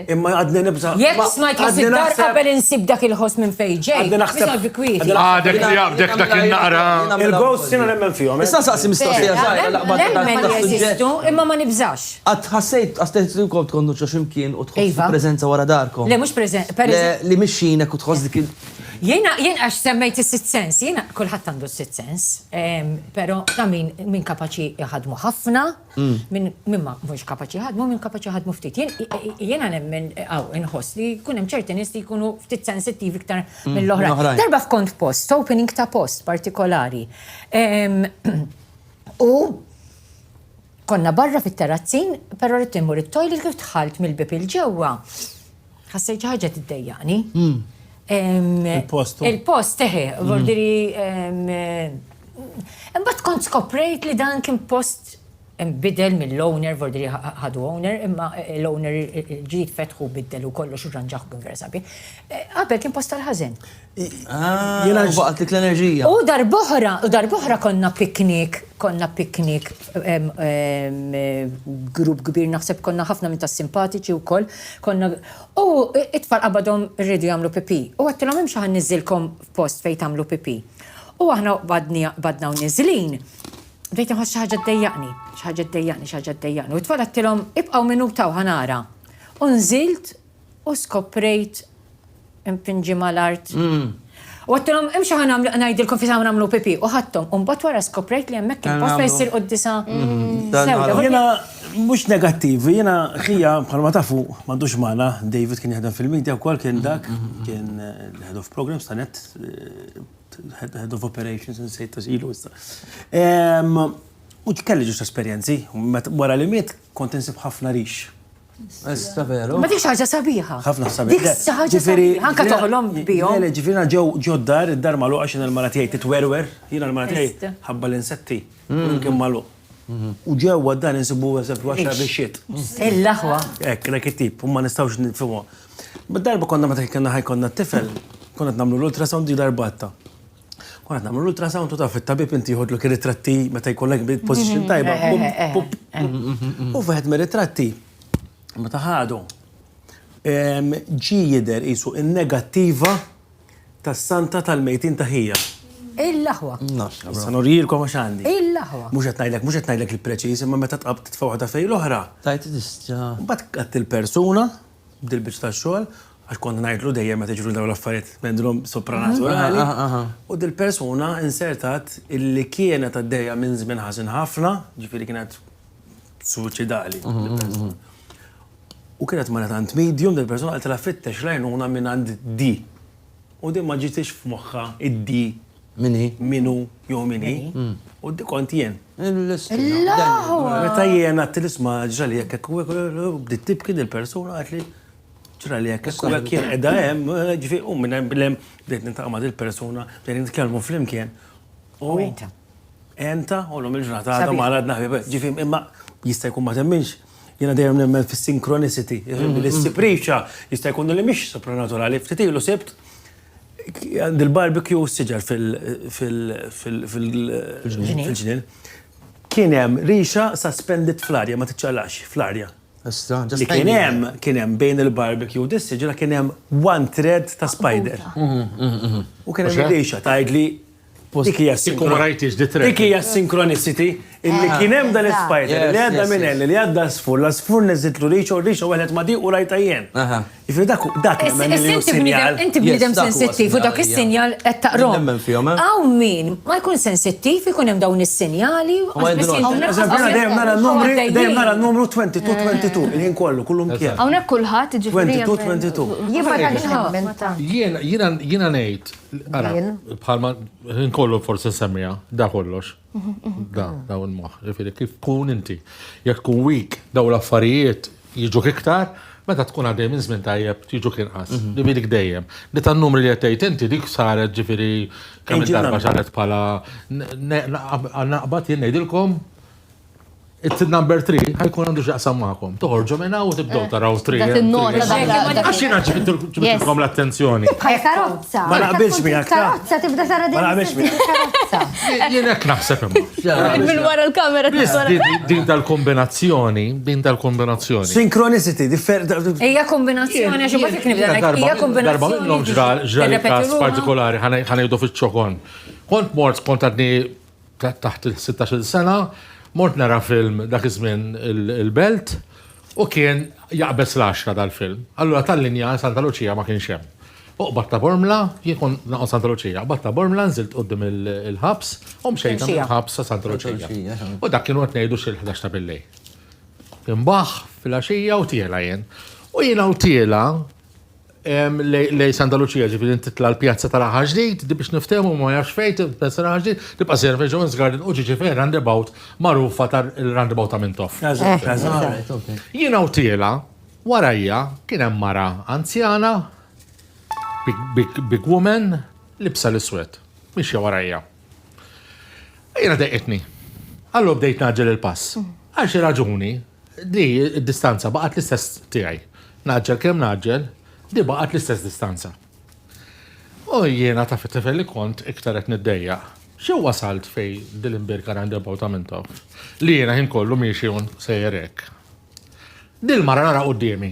Imma għadni nibza. Jek smajt li fid-dar qabel insib dak il-ħoss minn fej ġej. Għadni naħseb. Għadek li għabdek dak il-naqra. Il-ghost sinu nemmen fihom. Eh? Issa saqsi mistoqsija zaħra laqba Nemmen jeżistu imma ma nibżax. Għad ħassejt għastajt li kont kondu ximkien u tħoss iva. prezenza wara darkom. Le mux prezenza. Li mixxinek u tħoss dik il- Jena, jen għax semmejt il-sit sens, jena kullħat għandu sit sens, pero ta' min, min kapaċi jħadmu ħafna, Mm. Minn min ma mhux kapaċi ħadmu, minn kapaċi ħadmu ftit. Jiena nemmen għaw inħoss li jkun hemm ċerti nies li jkunu ftit sensittivi iktar mm, mill-oħra. Darba f'kont post, opening ta' post partikolari. U konna barra fit-terrazzin, però rrid immur it-toilet kif tħalt mill-bib il-ġewwa. Ħassejt xi ħaġa tiddejjaqni. Hmm. Il-post. Il-post, eħe, hmm. vordiri. Imbagħad kont skoprejt li dan kien post bidel mill-owner, vordiri ħadu owner, imma eh, l-owner ġid fetħu biddel u kollox u ġanġaħ b'inversabi. Eh, qabel kien post tal-ħazen. Jena ġbaqt dik l-enerġija. U darboħra, u darboħra konna piknik, konna piknik grupp kbir naħseb konna ħafna minn tas-simpatiċi u koll, konna u it-tfal qabadhom rridu jagħmlu pipi. U għattilhom hemm xaħan niżilkom f'post fejn tagħmlu pipi. U aħna badna u niżlin, bdejt nħoss xi ħaġa ddejjaqni, xi ħaġa ddejjaqni, xi ħaġa ddejjaqni. U t-tfal għattilhom ibqgħu minuta u ħanara. U nżilt U skoprejt impinġi mal-art. U għattilhom, imxu ħa nagħmlu ngħidilkom fisa nagħmlu pipi. U ħadthom, u mbagħad wara skoprejt li hemmhekk kien post fejn ssir quddisa sewda. Jiena mhux negattiv, jiena ħija bħalma tafu m'għandux magħna, David kien jaħdem fil-media wkoll kien dak, kien head of programs ta' net, head of operations insejt ilu issa. U kelli ġusta esperjenzi, wara li miet kont insib ħafna rix. Ma dik ħaġa sabiħa. Ħafna sabiħa. Dik ħaġa sabiħa. Anka toħlom bihom. Mela ġifina ġew ġoddar id-dar malu għax il mara tiegħi titwerwer, jiena l-mara tiegħi ħabba l-insetti. Mm. Kien malu. Mm-hmm. U ġew għaddan insibu għazab għaxar biexiet. Il-laħwa. Ek, nek it-tip, u ma nistawx nitfimu. Bid-darba konna ma t-tifel, konna t-namlu l-ultrasound di darbatta. Kon qed nagħmlu l-ultrasound u taf it-tabib inti jħodlok ir-ritratti meta jkollek bil-position tajba. U wieħed mir-ritratti meta ħadu ġi jidher qisu in-negattiva tas-santa tal-mejtin ta' ħija. Il-laħwa. Sa norjilkom għax għandi. Il-laħwa. Mhux qed ngħidlek, mhux qed ngħidlek il-preċiż, imma meta tqab titfa' waħda fejn l-oħra. Tajt tista'. Mbagħad qatt il-persuna dil-biċċa ta' xogħol, għax kont ngħidlu dejjem meta jiġru dawn l-affarijiet mendrom sopranaturali. U dil-persuna insertat illi kienet għaddejja minn żmien ħażin ħafna, ġifieri kienet suċidali. U kienet ma tant medium dil-persuna għaltela fittex lajnuna minn għand di. U din ma ġitix f'moħħa id-di Min hi? Min hu jew min hi. U dik kont jien. Meta jien għadt l-isma ġrali hekk hekk u hekk, bdiet tibki dil-persuna għidtli ġrali hekk hekk u hekk jien qiegħda hemm, ġifi u minn hemm bil-hemm bdejt nintaqa' ma' dil-persuna, bdejna nitkellmu flimkien. U enta? Enta, u llum il-ġurnata għadha ma għadna ħbieb. Ġifi imma jista' jkun ma temminx, jiena dejjem nemmen fis-synchronicity. L-istipriċċa jista' jkun li mhix supranaturali, ftit ilu sibt Għandi l-barbecue u s-siġar fil-ġnien. Kien hemm rixa suspended fl-arja, ma tiċċaqlaqx, fl-arja. Li kien hemm, kien hemm bejn il-barbecue u dis-siġra kien hemm one thread ta' spider. U kien hemm ir-rixa, tgħidli Dik hija Dik hija synchronicity illi ah, kien hemm dan is-spider li għadda minn hemm li għadda sfur la sfur neżitlu riċu riċu wieħed ma di u rajta jien. Jiġifieri dak dak sinjal. Inti bniedem sensittiv u dak is-sinjal qed taqrom. Eh? Hawn min ma jkun sensittiv ikun hemm dawn is-sinjali. Dejjem nara n-numri, dejjem nara n-numru 22 22 eh. il-ħin kollu kullu mkien. Hawnhekk kulħadd ġifieri. 22 22. Jiena ngħid Bħalma nkollu forsi nsemmija, da kollox. Da, da un moħ. Ġifiri, kif kun inti? Jek kun wik, daw l-affarijiet jiġu kiktar, meta tkun għaddej minn żmien tajjeb jiġu kien qas. Mhm. Li dik dejjem. Li tan numri li qed inti dik saret ġifieri kemm darba saret bħala naqbad jien ngħidilkom It-tid number 3 ħajkun għandu xaqsam maħkom. Toħorġu minna u tibdow eh, taraw 3. Għax jina ġibitkom l-attenzjoni. Tibqa karozza. Ma naqbilx minna. Karozza tibda tara din. Ma naqbilx minna. Jina knaħseb imma. Minn wara l-kamera Din tal-kombinazzjoni, din tal-kombinazzjoni. Synchronicity, differ. Ija kombinazzjoni, għax ma fik nibda. Ija kombinazzjoni. Darba minnom ġral ġral kas partikolari ħanajdu fil-ċokon. Kont mort kont għadni taħt il-16-il sena, mort nara film dak iż-żmien il-Belt u kien jaqbeż l-10 dal-film. Allura tal-linja Santa Lucia ma kienx hemm. Fuq Batta Bormla, jien kon naqgħod Santa Lucia, Batta Bormla nżilt qudiem il-ħabs u mxejt il-ħabs sa Santa Lucia. U dak kienu qed ngħidu xil-11 ta' billej. Imbaħ fil-għaxija u tiela jien. U jiena u tiela lej Santa Lucia, ġifiri titla l-pjazza tal-aħħar ġdid, di biex niftehmu ma jafx fejt, pjazza tal-aħħar ġdid, tibqa' sejra fejn Jones Garden u ġiġi fejn roundabout magħrufa tal-roundabout ta' Mintoff. Jiena u tiela, warajja kien hemm mara anzjana, big woman, libsa l-iswed, mixja warajja. Jiena deqitni. Allu bdejt naġġel il-pass. Għal xi raġuni, Di d-distanza baqgħet l-istess tiegħi. Ngħaġġel kemm ngħaġġel, di baqgħet l-istess distanza. U jiena taf it-tifel li kont iktar qed niddejjaq. Xi wasalt fej dil-imbirka roundabout ta' Mintoff li jiena ħin kollu miexi un sejjer hekk. Dil-mara nara quddiemi.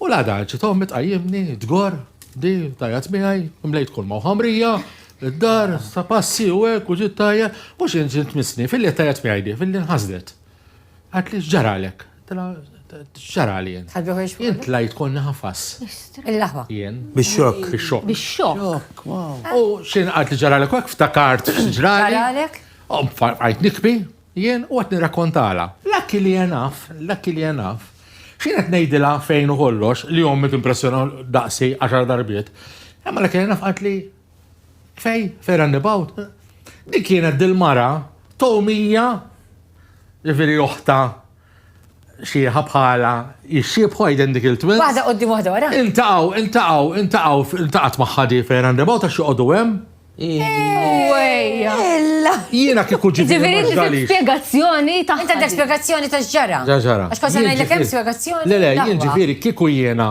U l-għada ġiet ommi tqajjimni, tgorr, di, tajjat miegħi, mlejt kull ma' ħamrija, id-dar, sa passi u hekk u ġiet tajja, mhux inġin tmissni, filli tajjat miegħi di, filli nħasdet. Għad li x'ġaralek? X'ġarali jien? Jien tlajt konni ħafas. Il-laħwa. Jien. Bix-xokk. Bix-xokk. Bix-xokk. U x'in għad li ġaralek hekk ftakart x'ġrali. Ġaralek? Għajt nikbi, Jien u qed nirrakkontalha. Lucky li hija naf, lucky li hija naf, x'jien qed ngħidilha fejn u kollox, li ommi timpressjona daqsi għaxar darbiet. Imma lucky li hija naf qaltli, Fej, fej roundabout? Din kienet dil-mara, Tomija, jiġifieri oħtha, Xieħa bħala jixxiebħu għiden dik il-twins. Waħda qoddim waħda wara. Intaqaw, intaqaw, intaqaw, intaqat maħħa di fejn għandebaw ta' xoqodu hemm. Jiena kieku ġiet. Ġifieri spjegazzjoni ta' spjegazzjoni ta' ġara. Ġara. Għax kont ngħidlek hemm spjegazzjoni. Le le, jien ġifieri kieku jiena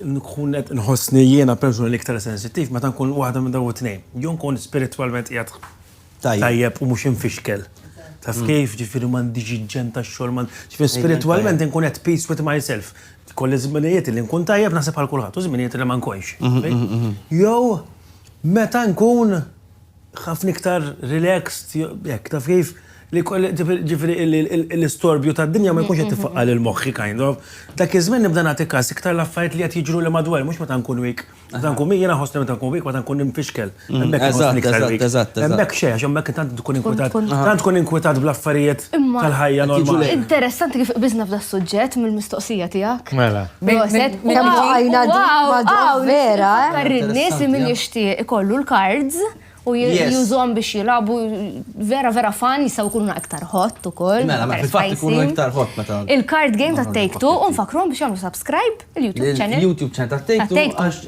Nkun qed inħossni jiena persuna l-iktar sensittiv meta nkun waħda minn dawn it-tnejn. Jew nkun spiritwalment qiegħed tajjeb u mhux imfixkel. Taf kif? Ġifieri m'għandix il-ġenn tax-xogħol, ma, ġifieri spiritwalment inkun at peace with myself. Jkolli żminijiet li nkun tajjeb naħseb bħal kulħadd u żminijiet li ma nkunx. Jew meta nkun. ħafna iktar relaxed, hekk, taf kif, li ġifieri l-istorbju tad-dinja ma jkunx qed tifaqqa' lil moħħi kind of. Dak iż-żmien nibda nagħti każ iktar l-affarijiet li qed jiġruli madwarja, mhux meta nkun weak. Meta nkun weak, jiena nħossni meta nkun weak meta nkun imfixkel. Hemmhekk inħossni iktar weak. Hemmhekk xejn, għax hemmhekk tant tkun inkwitat, tant tkun inkwitat bl-affarijiet tal-ħajja normali. Interessanti kif qbiżna f'das-suġġett mill-mistoqsija tiegħek. Mela. Proset, u għajna madwar vera. Karrinnis minn ixtieq ikollu l-cards u jużom biex jilabu vera vera fan jisaw kunu iktar hot u koll. Mela, ma fil-fat kunu iktar hot meta. Il-card game ta' Take Two un fakrom biex jamlu subscribe il-YouTube channel. YouTube channel ta' Take Two.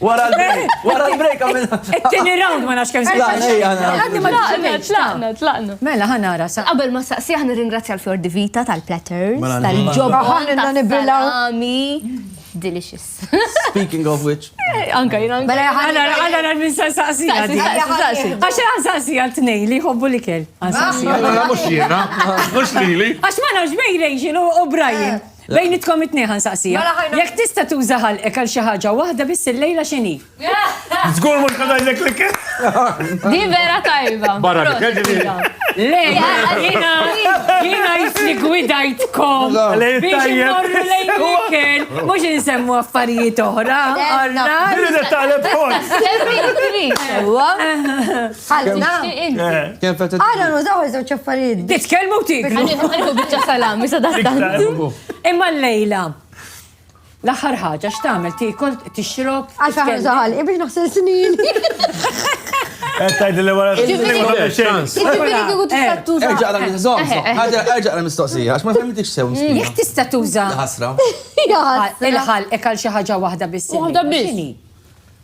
Wara l-break, wara l-break għamilna. It-tieni round ma nafx kemm se Tlaqna, tlaqna, tlaqna. Mela ħanara sa. Qabel ma saqsi aħna ringrazzja l-Fjor Divita tal-platters, mela, tal-ġobba ħanilna nibrilaw. Delicious. Speaking of which. Eh, anka jina. Mela ħanara ħanara minn sa saqsi. Għax għan saqsi għal tnej li jħobbu li kell. Għan saqsi. Mela mux jena, mux li li. Għax ma nafx bejn Rachel u Brian. Eh. Bejnitkom it-tnejn ħa nsaqsija. Jekk tista' tuża ħalqek għal xi ħaġa waħda biss illejla x'inhi? Żgur mhux ħa ngħidlek l-ikel. Di vera tajba. Barra l-ikel ġifieri. Le, jiena jiena jisni gwidajtkom. Biex immorru lejn l-ikel, mhux insemmu affarijiet oħra. Irrid taleb kont. Ħalna. Għana nużaw iż-żewġ affarijiet. Titkellmu tiklu. Għaniħu bieċa salami sa daħtantu. Imma l-lejla. L-aħħar ħaġa x'tagħmel tikol tixrob. Għax aħna żaħal, biex naħsel snin. Għettajd li wara Erġa għal mistoqsija, għax ma femmix sew. Jek tista tuża. Ħasra. Il-ħal, ekal xi ħaġa waħda biss. Waħda biss.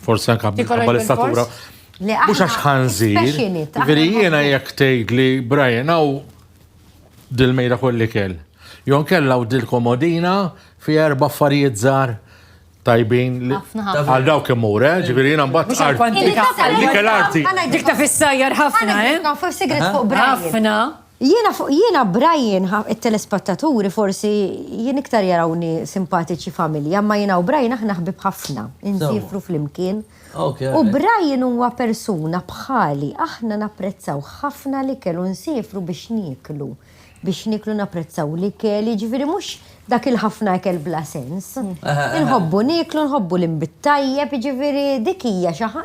Forsi anka minħabba l-istatura. Mux għax ħanżir. Veri jena jek tgħid li Brian għaw dil-mejda kolli kell. Jon kella u dil-komodina fi erba affarijiet zar tajbin li għal dawk imur, eh? ġifiri jina mbatt għal. Dik l-arti. Dik ta' fissajjar ħafna, eh? Ħafna. Jiena fuq jiena Brian ħa it-telespattaturi forsi jien iktar jarawni simpatiċi familja imma jiena u Brian aħna ħbieb ħafna, insiefru flimkien u Brian huwa persuna bħali aħna napprezzaw ħafna l-ikel u nsiefru biex nieklu, biex nieklu napprezzaw l-ikel jiġifieri mhux dak il-ħafna ikel bla sens. Inħobbu nieklu nħobbu l-inbid tajjeb jiġifieri dik hija xi ħa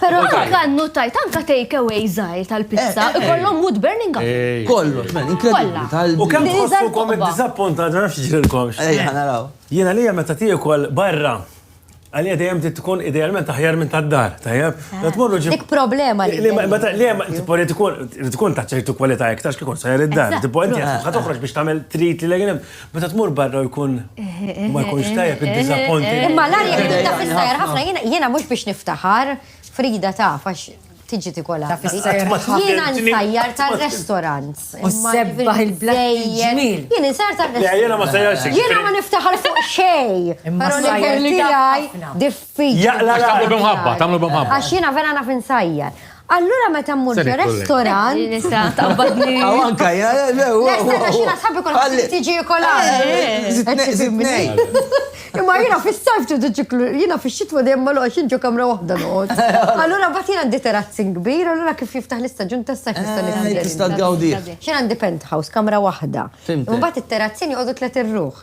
Pero anka nutajt, anka take away zaħir tal-pista, eh, eh, eh. kollom wood burning up. Kollu, men, inkredibli tal U kem tħossukom id-disappunta, ġana xġilkom. Ejja, naraw. Jena li meta tiju kol barra, għalija dejjem tkun idealment aħjar minn tad-dar, tajjeb? Ah, tmorru ġib. Dik problema li. Meta li hemm tipo li tkun tkun ta' ċertu kwalità iktar kikun sajr id-dar, tipo inti ħad toħroġ biex tagħmel trit li legħin Meta tmur barra u jkun ma jkunx tajjeb id-disappointi. Imma l-arja li tibda fis-sajr ħafna jiena mhux biex niftaħar Frida taf għax tiġi tikola. Jiena nsajjar tar-restaurant. U sebbaħ il-blejjel. Jiena nsajjar tar-restaurant. Jiena ma sajjarx. Jiena ma niftaħar fuq xejn. Però l-ħajja tiegħi diffiċli. Jaqla tagħmlu b'mħabba, tagħmlu b'mħabba. Għax jiena vera naf insajjar. Allura meta mmur fi restorant. Nista' tabbadni. Aw anka, ja, le, u. Nista' xi nasab ikun tiġi kolari. Imma jiena fis-sajf tu ċiklu, jiena fix-xitwa dejjem ma loqgħodx inġu kamra waħda noqgħod. Allura bat jiena għandi terrazzin kbir, allura kif jiftaħ l-istaġun tas-sajf nista' niftaħ. Tista' tgawdi. Xi għandi penthouse, kamra waħda. Imbagħad it-terrazzin joqogħdu tliet irruħ.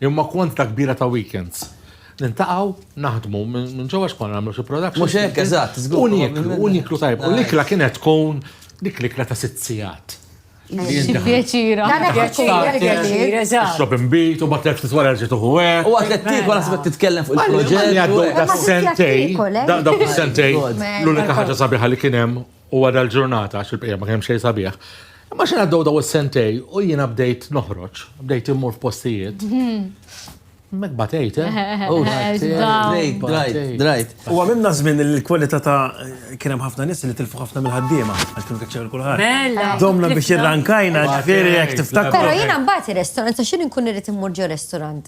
Imma kwantità kbira ta' weekends. Niltaqgħu, naħdmu minn ġewwa x'konna nagħmlu xi productions. Mhux hekk, eżatt, żgur. U nieklu, u nieklu tajjeb. U l-ikla kienet tkun dik l-ikla ta' sitt sigħat. Xi pjaċir. Tagħna pjaċir, tagħna pjaċir, eżatt. Tixrob inbid u mbagħad tliet ftit wara terġa' tieħu hekk. U waqt li qed tiekol naħseb qed titkellem fuq il-proġett. Għaddew daqs-sentejn, dawk is-sentejn, l-unika ħaġa sabiħa li kien hemm u wara l-ġurnata għax il-bqija ma kien hemm xejn sabiħ. Imma xi għaddew daw is-sentej u jiena bdejt noħroġ, bdejt immur f'postijiet. Mek batejt, eh? Oh, Drajt, drajt, drajt. U għamilna żmien il-kwalità ta' kien hemm ħafna nies li tilfu ħafna mill-ħaddiema għax kienu kaċċew kulħadd. Bella. Domna biex irrankajna ġifieri jekk tiftakru. Però jiena mbagħad ir-restorant għax jien inkun irid immur ġo restorant.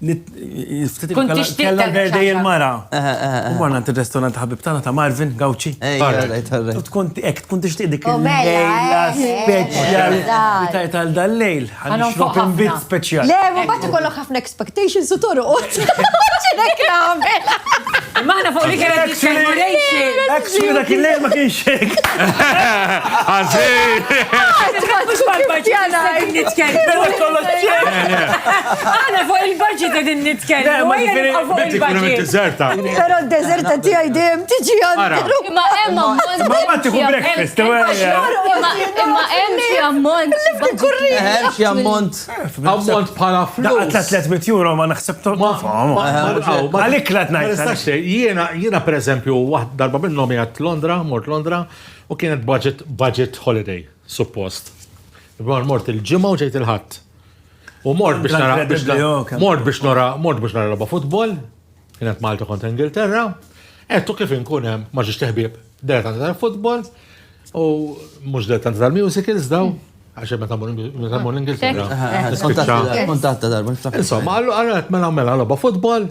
Kella berdej il-mara. U marna għant il-restorant ħabib tana ta' Marvin Gauci. U tkun ek, tkun tixtiq dik il-lejla speċjal. Tajt għal dal-lejl, għan xrop imbit speċjal. Le, ma bat ikollok ħafna expectations u toru. Ċinek għamela. Maħna fuq li kienet expectations. Ek, dak il-lejl ma kienx xek. Għana fuq il-budget edin nitkellem. Pero d-dezerta ti għajdem tiġi għandu. Ma emma mont. Ma ma tiħu breakfast. Ma emma xie ammont. Kurri. Xie ammont. Ammont pala flus. Daqqa 300 euro ma naħsebtu. Għalik la t-najt. Jiena, per eżempju, darba minnom jgħat Londra, mort Londra, U kienet budget, budget holiday, suppost. Imma mort il-ġimgħa u ġejt il-ħadd. U mort biex nara biex nara- mort biex nara mort biex nara logħba futbol, kienet Malta kontra Ingilterra, qed u kif inkun hemm ma ġiex teħbieb dilettanti tal-futbol u mhux dilettanti tal-musicals daw għax meta mmur meta mmur l-Ingilterra. Kontatta darba, niftakar. Insomma, għallu għallu għet mela mela loba futbol,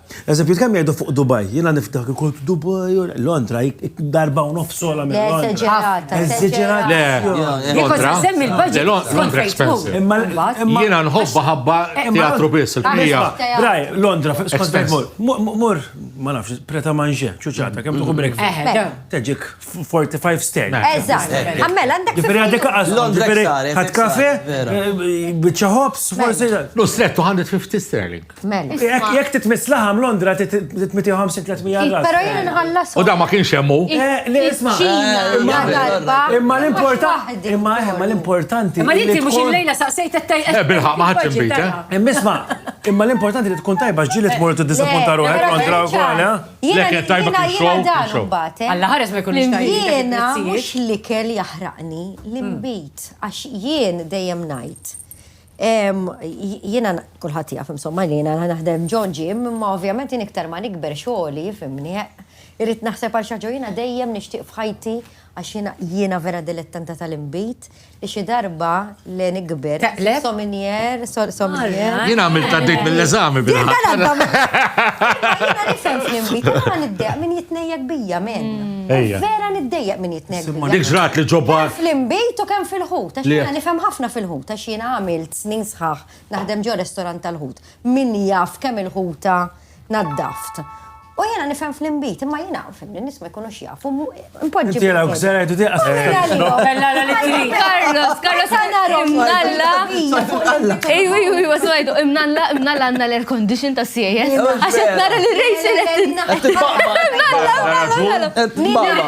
Eżempju, kemm jgħidu fuq Dubai, jiena niftak ikun Dubai, Londra, darba u nofs sola minn Londra. Eżaġerata, eżaġerata. Londra, semmi l-budget. Londra expensive. Jiena nħobba ħabba teatru biss, il-kmija. Braj, Londra, skont mur, mur, ma nafx, preta manġe, ċuċata, kemm tuħu brek. Teġik 45 sterz. Eżatt, għammel, għandek. Ġifiri għadek għas, ġifiri għad kafe, bieċa hops, forse. Lu strettu 150 sterling. Mela. Jekk titmiss laħam Londra titmitiħu 50-300 għal. Pero jien nħallas. U da ma kienx hemmu. Eh, le isma. Eh, imma l-importanti. Eh, imma imma l-importanti. Ma inti mhux il-lejla saqsejt qed Eh bilħaq ma ħadx inbit. Imma isma' imma l-importanti li tkun tajba ġġieli tmur tiddisappunta ruħek kontra wkoll. Le kien tajba kien xow. Alla ħares ma jkunx tajba. Jiena mhux l-ikel jaħraqni l-imbit għax jien dejjem ngħid Jiena kulħadd jaf insomma li jiena naħdem ġo ġim, imma ovvjament jien iktar ma nikber xogħli jifhimni, irrid naħseb għal xi ħaġa u jiena dejjem nixtieq f'ħajti għax jiena jiena vera dilettanta tal-inbid li xi darba li nikber. Taqleb? Sominier, sol- sominier. Jien għamilt għaddejt mill-eżami bil Jien tal-għadda Jiena nifhem fl-inbid, jiena ma niddejjaq min jitnejjek bija men. Ejja. Vera niddejjaq min jitnejjek bija. Dik ġrat li ġo bar. Fl-inbid u kemm fil-ħut, għax Li- jiena nifhem ħafna fil-ħut. Taf x'jiena għamilt snin sħaħ naħdem ġo restorant tal-ħut. Min jaf kemm il-ħuta naddaft. U jiena nifhem fl-inbid, imma jiena, fimni, n-nies ma jkunux jafu. Impoġġi. Inti għalhekk ser għidu di qasam. Carlos, Carlos, imnalla. Ejju, ejju, ejju, wasmajdu, imnalla, imnalla għandna l-air condition ta' siejja. Għaxet nara li rejxin. Imnalla, imnalla.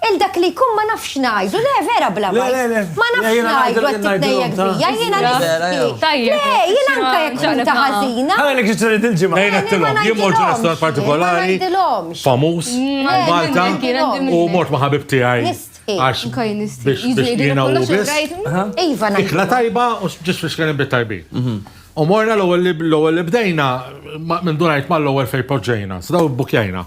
Il dak li jkun ma nafx ngħidu, le vera bla ma. Ma nafx ngħidu għat titnejjek bija, jiena nifsi. Tajjeb. Le, jiena anka jek ġunta ħażina. Ħana li kħiċċu li dil-ġimgħa. Lejna t-tilom, jien mort restor partikolari. Famus, Malta, u mort maħabib tijaj. Għax, biex jiena u bis. Iva, najdu. Ikla tajba, u ġis biex kienem bit-tajbi. U morna l-ewel li bdejna, minn dunajt ma l-ewel fej poġġejna, s-daw bukjajna.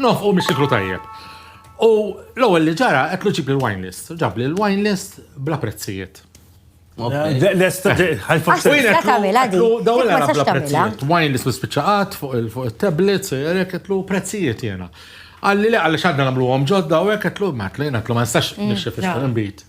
Nofqu mis-siklu tajjeb. U l-ewwel li ġara qedlu ġib li l-wine list. Ġab li l-wine list bla prezzijiet. Lesta, ħajfak sejna. Dawla għara bla prezzijiet. Wine list bispiċaqat fuq il-tablets, jerek qedlu prezzijiet jena. Għalli li għalli xadna namlu għom ġodda u għek qedlu, ma għetlu jena għetlu ma nistax nixxef il-bit.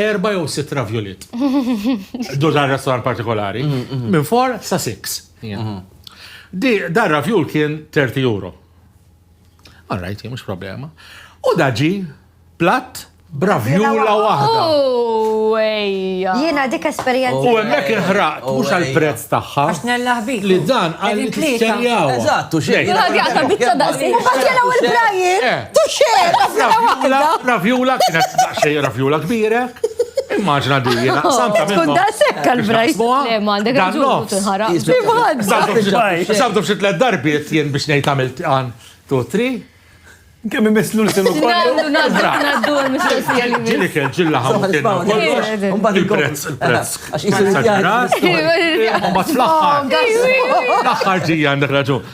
Erba' jew sitt raviolit. Dur dan restaurant partikolari. Minn four sa six. Dar ravjul kien 30 euro. All right, mhux problema. U da ġi platt b'ravjula waħda. Jiena dik esperjenza. U hemmhekk inħraqt mhux għall-prezz tagħha. Għax nella ħbib. Li dan għal tlieta. Eżatt, u xejn. Jaqta' biċċa daqshekk. U bad jela u l-brajiet. Ravjula kienet daqsxejn ravjula kbira. Immaġna di jiena samta minn. Tkun daqshekk għall-brajs. Le ma għandek raġun tinħaraq. Sabdu f'xi tliet darbiet jien biex ngħid għamilt għan tu tri. Kemm imisslu l-sinu kollu. Naddu l-mistoqsija li. Ġili kell ġilla ħamu kien. Il-prezz, il-prezz. Għax jisir il-prezz. Ma t-laħħar. Laħħar ġija għandek raġun.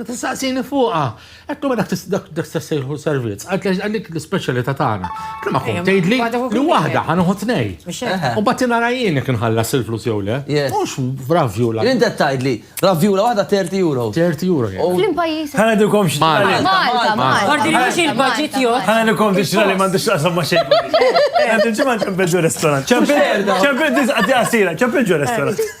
Tla' tistaqsini fuqha. Qed ma dak dak sejħu servizz, għad għax għalik l-ispeċjalità tagħna. Tla' ma kum eh, tgħidli li waħda ħa noħu tnej. U bagħti nara jien jekk inħallas il-flus jew le. Mhux b'ravjula. Jien qed tgħidli, ravjula waħda 30 euro. 30 euro. Flim pajjiż. Ħana dukom xi. Malta, Malta. Għardi mhux il-budget jo. Ħana dukom biex li m'għandux taqsam ma' xejn. Għandu ġimgħa ċempel ġu restaurant. Ċempel ġu restaurant. Ċempel ġu restaurant.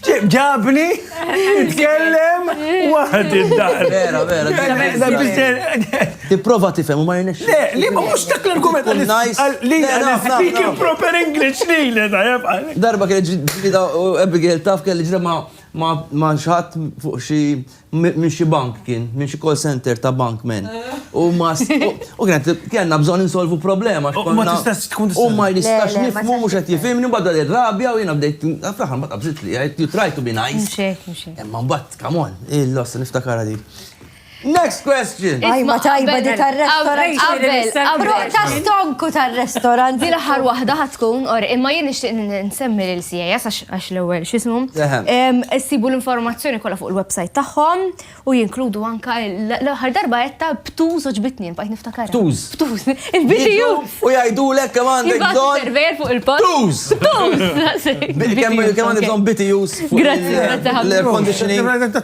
ġabni nitkellem waħd id-dar. Vera, vera. Tipprova tifhem u ma jirnex. Le, li ma mhux dak l-argument li speak in proper English li le Darba kien ġdida Abigail taf kelli ġdida ma ma xħat fuq xi minn xi bank kien, minn xi call center ta' bank men. U ma u kienet kellna bżonn insolvu problema. U ma tistax tkun U ma jistax nifhmu mhux qed jifhimni mbagħad beda rabja u jiena bdejt fl-aħħar ma qabżitx li għidt you try to be nice. Imma mbagħad come on, il-loss niftakarha din. Next question! Tajba tajba di tar-restorant. Qabel, qabel. Ta' stonku tar-restorant. Din l-aħħar waħda ħad tkun or imma jien nixtieq nsemmi lil CAS għax għax l-ewwel x'ismu, issibu l-informazzjoni kollha fuq il-website tagħhom u jinkludu anka l-aħħar darba qed ta' btuż oġbitni bajt niftakar. Btuż. Btuż. Il-biċi U jgħidulek kemm għandek bżonn. Server fuq il-post. Btuż. Btuż. Kemm għandek bżonn biti jus. Grazzi, grazzi ħafna. L-air conditioning.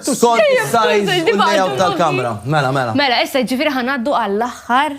Skont size u l-layout tal-kamra. Mela, mela. Mela, issa ġifieri ħanaddu għall-aħħar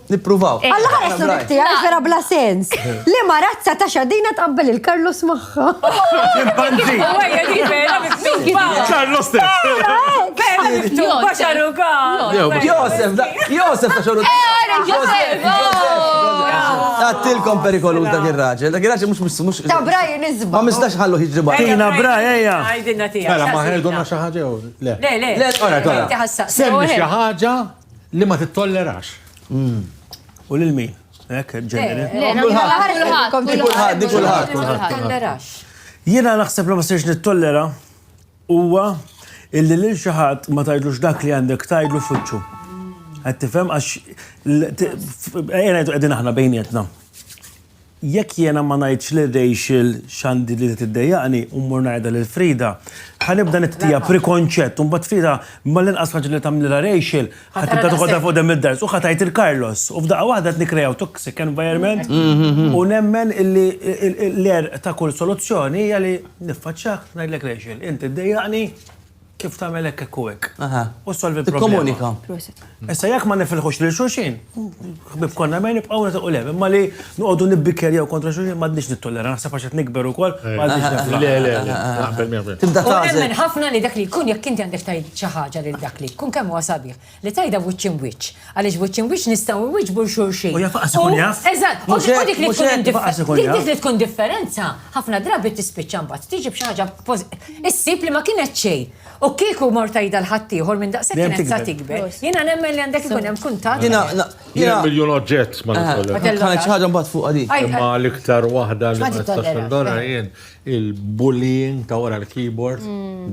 Nippruvaw. Alla ħares l tiegħi vera bla sens. Li ma razza ta' xadina tqabbel il-Karlos magħha. Impanzi. Għajja di vera miktuba. Karlos te. Vera miktuba xaruka. Josef, Josef ta' xaruka. Josef. Tattilkom perikolu dak ir-raġel. Dak ir-raġel mhux mhux. Ta' Braj nizba. Ma mistax ħallu ħiġri barra. Tina Braj ejja. Għajdilna tiegħek. Mela ma ħerduna xi ħaġa jew le. Le, le. Le, ora, ora. Semmi xi ħaġa. Li ma tittollerax. U lil min? Hekk ġeneri. Jiena naħseb li ma sirx nittollera huwa illi lil xi ħadd ma tgħidlux dak li għandek tgħidlu fuċċu. Qed tifhem għax qegħdin aħna bejnietna. Jekk jiena ma ngħidx lil Rachel x'għandi li qed iddejjaqni u mmur ngħidha lil Frieda, ħa nibda nittija' prekonċett u mbagħad Frieda mal-inqas ħaġa li tagħmlilha Rachel ħa tibda toħodha fuq quddiem id-dars u ħa tgħid lil Carlos u f'daqqa waħda qed nikkreaw toxic environment u nemmen illi l-għerq ta' kull soluzzjoni hija li niffaċċjak ngħidlek Rachel, inti ddejjaqni, Kif tagħmel hekk hekk u hekk. Aha. U ssolvi l-problema. Tikkomunika. Proset. Issa jekk ma nifilħux lil xulxin, ħbieb konna mejn nibqgħu nagħtiqu lev. Imma li noqogħdu nibbikkerjaw kontra xulxin m'għadniex nittollera, naħseb għax qed nikber ukoll m'għadniex nifla. Le, le, le. Naqbel miegħek. Tibda U tagħżel. nemmen ħafna li dak li jkun jekk inti għandek tgħid xi ħaġa lil dak li jkun kemm huwa sabiħ. Li tgħidha wiċċ imwiċċ. Għaliex wiċċ imwiċċ nistgħu nwieġbu 'l xulxin. U jaf lanqas ikun jaf. Eżatt, u dik li tkun indifferenza. Dik li tkun differenza, ħafna drabi tispiċċa mbagħad tiġi b'xi ħaġa issib li ma kienet xejn. U kieku mort tgħidha l ħaddieħor minn daqshekk kienet sa tikber. Jiena nemmen li għandek ikun hemm kuntatt. Jiena miljun oġġett ma nitollu. Ħaġa mbagħad fuq għadi. Imma l-iktar waħda li ma nistax indorha jien Il bullying ta' wara l-keyboard.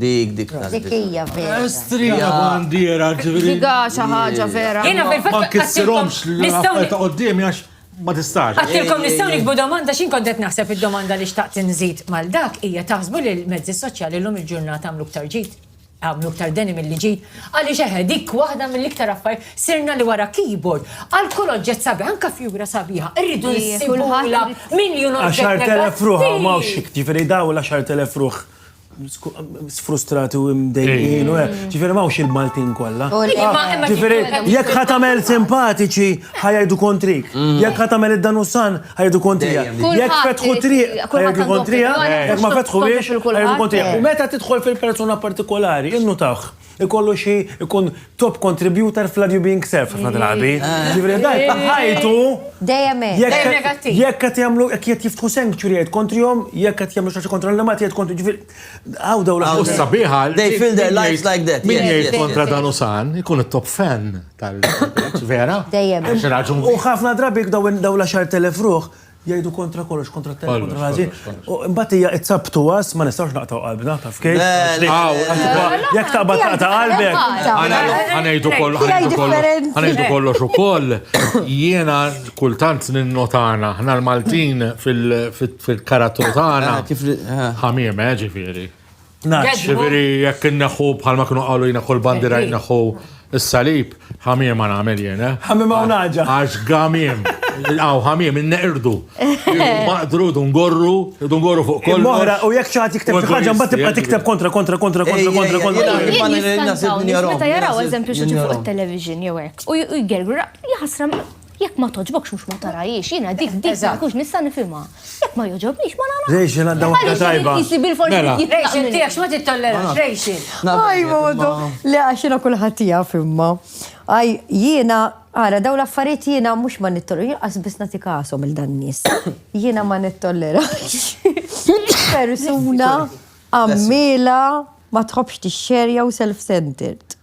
Dik, dik ta' Dik hija vera. Estrija bandiera ġifieri. Dik hija xi ħaġa vera. Jiena fil-fatt ma nkissirhomx l-affarijiet ta' quddiem għax ma tistax. Għattilkom nistgħu nikbu domanda x'jien kont qed naħseb id-domanda li xtaqt inżid mal dak hija taħsbu li l-mezzi soċjali llum il-ġurnata għamlu iktar ġid? Għamlu iktar deni milli ġid. Għaliex eħe, dik waħda mill-iktar affarijiet. Sirna li wara keyboard, għal kull oġġett sabiħ, anke fjura sabiħa, irridu nsibulha miljun oġġett. Għaxart elef ruħ hawn m'hawnx hekk, ġifieri dawn l-għaxart elef ruħ sfrustrati u mdejjin u hekk. Ġifieri m'hawnx il-Maltin kollha. Ġifieri jekk ħa tagħmel simpatiċi ħa jgħidu kontrik. Jekk ħa tagħmel id-danusan ħajdu kontrija. Jek fetħu triq, ħajdu kontrija, jek ma fetħu biex, ħajdu kontrija. U meta tidħol fil-persuna partikolari, innu taħ, ikollu xi ikun top contributor fl-adju being self, ħafna drabi. Ġivri, daj, ħajtu. Dejjem negattiv. Jek għat jamlu, jek jett jiftħu sanctuary għed kontrijom, jek għat jamlu xaxi kontra l-lemat jgħed kontri, ġivri, għaw daw l-għaw. Sabiħa, they feel their lives like that. Min jgħid kontra dan usan, ikun top fan. tal-prezz, vera? Dejjem. U ħafna drabi daw l-għaxar telef ruħ jgħidu kontra kollox, kontra t kontra l-ħazin. Mbagħad hija itzabtu għas ma nistgħux naqtaw qalbna, taf kif? Jekk taqbad taqta' qalbek. Ħanejdu kollox, ħanejdu kollox ukoll. Jiena kultant ninnotana ħna l-Maltin fil-karattru tagħna. Ħamiem, eh, ġifieri. Naċ, veri, jekk inneħu bħalma kienu għalu jina kol bandira jinaħu s-salib, ħamiem għan għamil jena. Eh? Ħamiem għan għagġa. Għax għamiem, għaw ħamiem, inneqirdu. Maqdru, dungorru, dungorru fuq kol. Moħra, u jek ċaħat jikteb ħagġa, mbatt tibqa tikteb kontra, kontra, kontra, kontra, kontra, kontra. Meta jaraw, eżempju, xieġu fuq il-television, jew hekk, u jgergru, jħasram Jekk ma toġbokx mhux ma tarajiex, jiena dik dik ma kunx nista' nifhimha. Jekk ma joġobnix ma nara. Rejxil għandha waħda tajba. Jisi bil-forsi mela. Rejxil tiegħek x'ma tittollerax rejxil. Aj modu, le għax jiena kulħadd tiegħek imma. Aj jiena ara daw l-affarijiet jiena mhux ma nittollerax, qas biss nagħti kasom il dan nies. Jiena ma nittollerax. Persuna għammila ma tħobbx tixxerja u self-centered.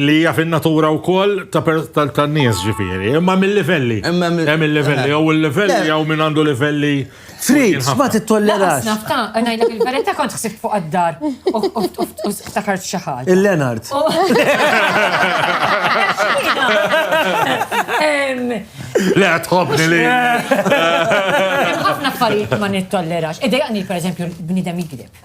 Li hija fin-natura wkoll tan-nies ġifieri, imma mil-livelli. Hemm il-livelli, jew il-livell jew min għandu livelli. Frid, ma tittollerax. Nafta, ngħidlek il-verità kont ħsibt fuq għad-dar u ftakart xi ħaġa. Il-Lenard. Le, tħobbni li. Ħafna affarijiet ma nittollerax. Idejaqni, per eżempju, bnidem jikdeb.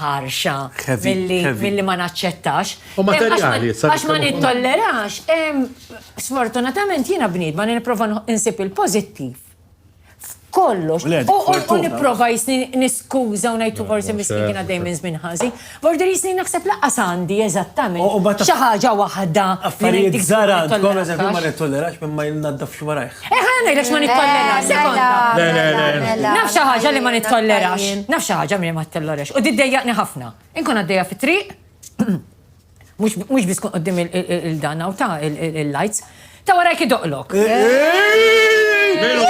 ħarxa milli ma naċċettax. U materjali, għax ma nittollerax. Sfortunatament jiena bniedma li nipprova nsib il-pożittiv. Kollox. U nipprova jisni niskuża u ngħid forsi miskin kien għaddej minn żmien ħażin. Border jisni naħseb laqqas għandi eżattament. Xi ħaġa waħda. Affarijiet żgħar għandkom eżempju ma nittollerax minn ma jnaddafx warajh. Eh, ħana ngħidlek ma nittollerax, eh, sekonda. Le, le, le. Naf xi ħaġa li ma nittollerax. Naf xi ħaġa li ma nittollerax. U diddejjaqni ħafna. Inkun għaddejja fit-triq, mhux biss kun qudiem il-dan u ta' il-lights, ta' warajk idoqlok. Eh, eh,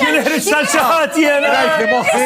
jien ħriġt tal-xaħat jien. Rajt li moħħi.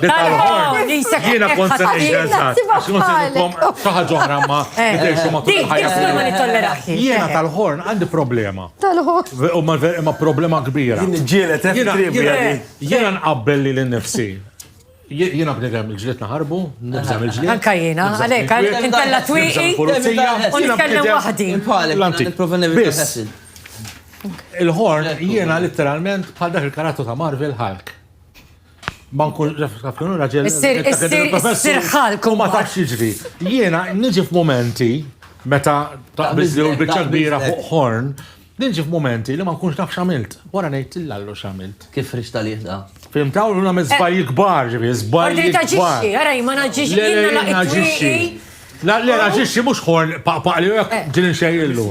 Jiena kont se ngħid eżatt. Għax kont se ngħidilkom xi ħaġa oħra ma nidhirx ma titħajjarx. Jiena tal-ħorn għandi problema. Imma problema kbira. Jiena nqabbel lili nnifsi. Jiena bniedem il-ġlied naħarbu, nibża' mill-ġlied. Anke jiena, għalhekk għalhekk intella' twieqi u nitkellem waħdi. Il-ħorn jiena litteralment bħal dak il-karattru ta' Marvel Hulk. Ma nkun naf kienu raġel. Issir ħalku. Ma tafx jiġri. Jiena niġi f'momenti meta taqbiż li l-biċċa kbira fuq ħorn, niġi f'momenti li ma nkunx naf x'għamilt. Wara ngħid l-allu x'għamilt. Kif rix tal-jieħ da? Fim taw l-għamil zbajji kbar, ġivi, zbajji. Għarri taġiċi, għarri ma naġiċi, jina naġiċi. La, le, naġixxi mhux ħorn paqpaqli u jekk ġili nxejjillu.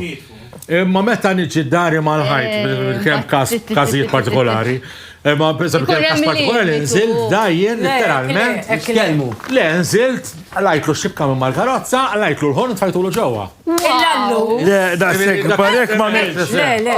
Imma meta niġi dari mal-ħajt, eh, kemm każ każijiet partikolari, imma biżab kemm każ partikolari nżilt dajjen literalment. Kelmu. Le, nżilt, lajtlu xibka minn mal-karozza, lajtlu l-ħorn tfajtulu ġewwa. Le, da sekk barek ma Le, le.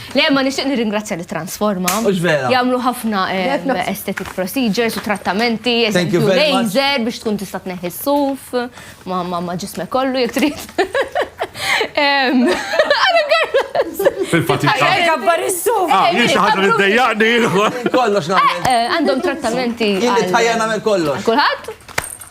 Le, ma nixtieq nirringrazzja li transforma. Ux vera. Jamlu ħafna aesthetic procedures u trattamenti, eżempju laser biex tkun tista' tneħħi s-suf, ma ma ġisme kollu jek trid. Fil-fatt jkabbar is-suf. Ah, jien xi ħaġa li ddejjaqni. Kollox nagħmel. Għandhom trattamenti. Jien li tħajja nagħmel kollox. Kulħadd?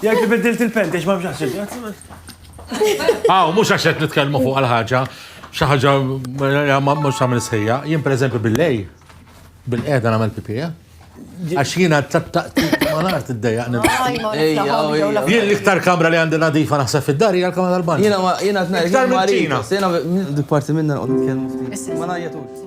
Jgħid li biddilt il-pent, għax ma bxax il-pent. Aw, mux għax qed nitkellmu fuq għal-ħaġa, xi ħaġa mhux tagħmel sħejja. Jien pereżempju bil-lej, bil-qiegħda nagħmel pipija. Għax jiena tat-taqtiq ma nart id-dejjaq Jien l-iktar kamra li għandi nadifa naħseb fid-dar hija l-kamra tal-bank. Jiena jiena tnejn. Iktar minn ċina. Jiena dik parti minna nqgħod nitkellmu ftit. Ma ngħajjatux.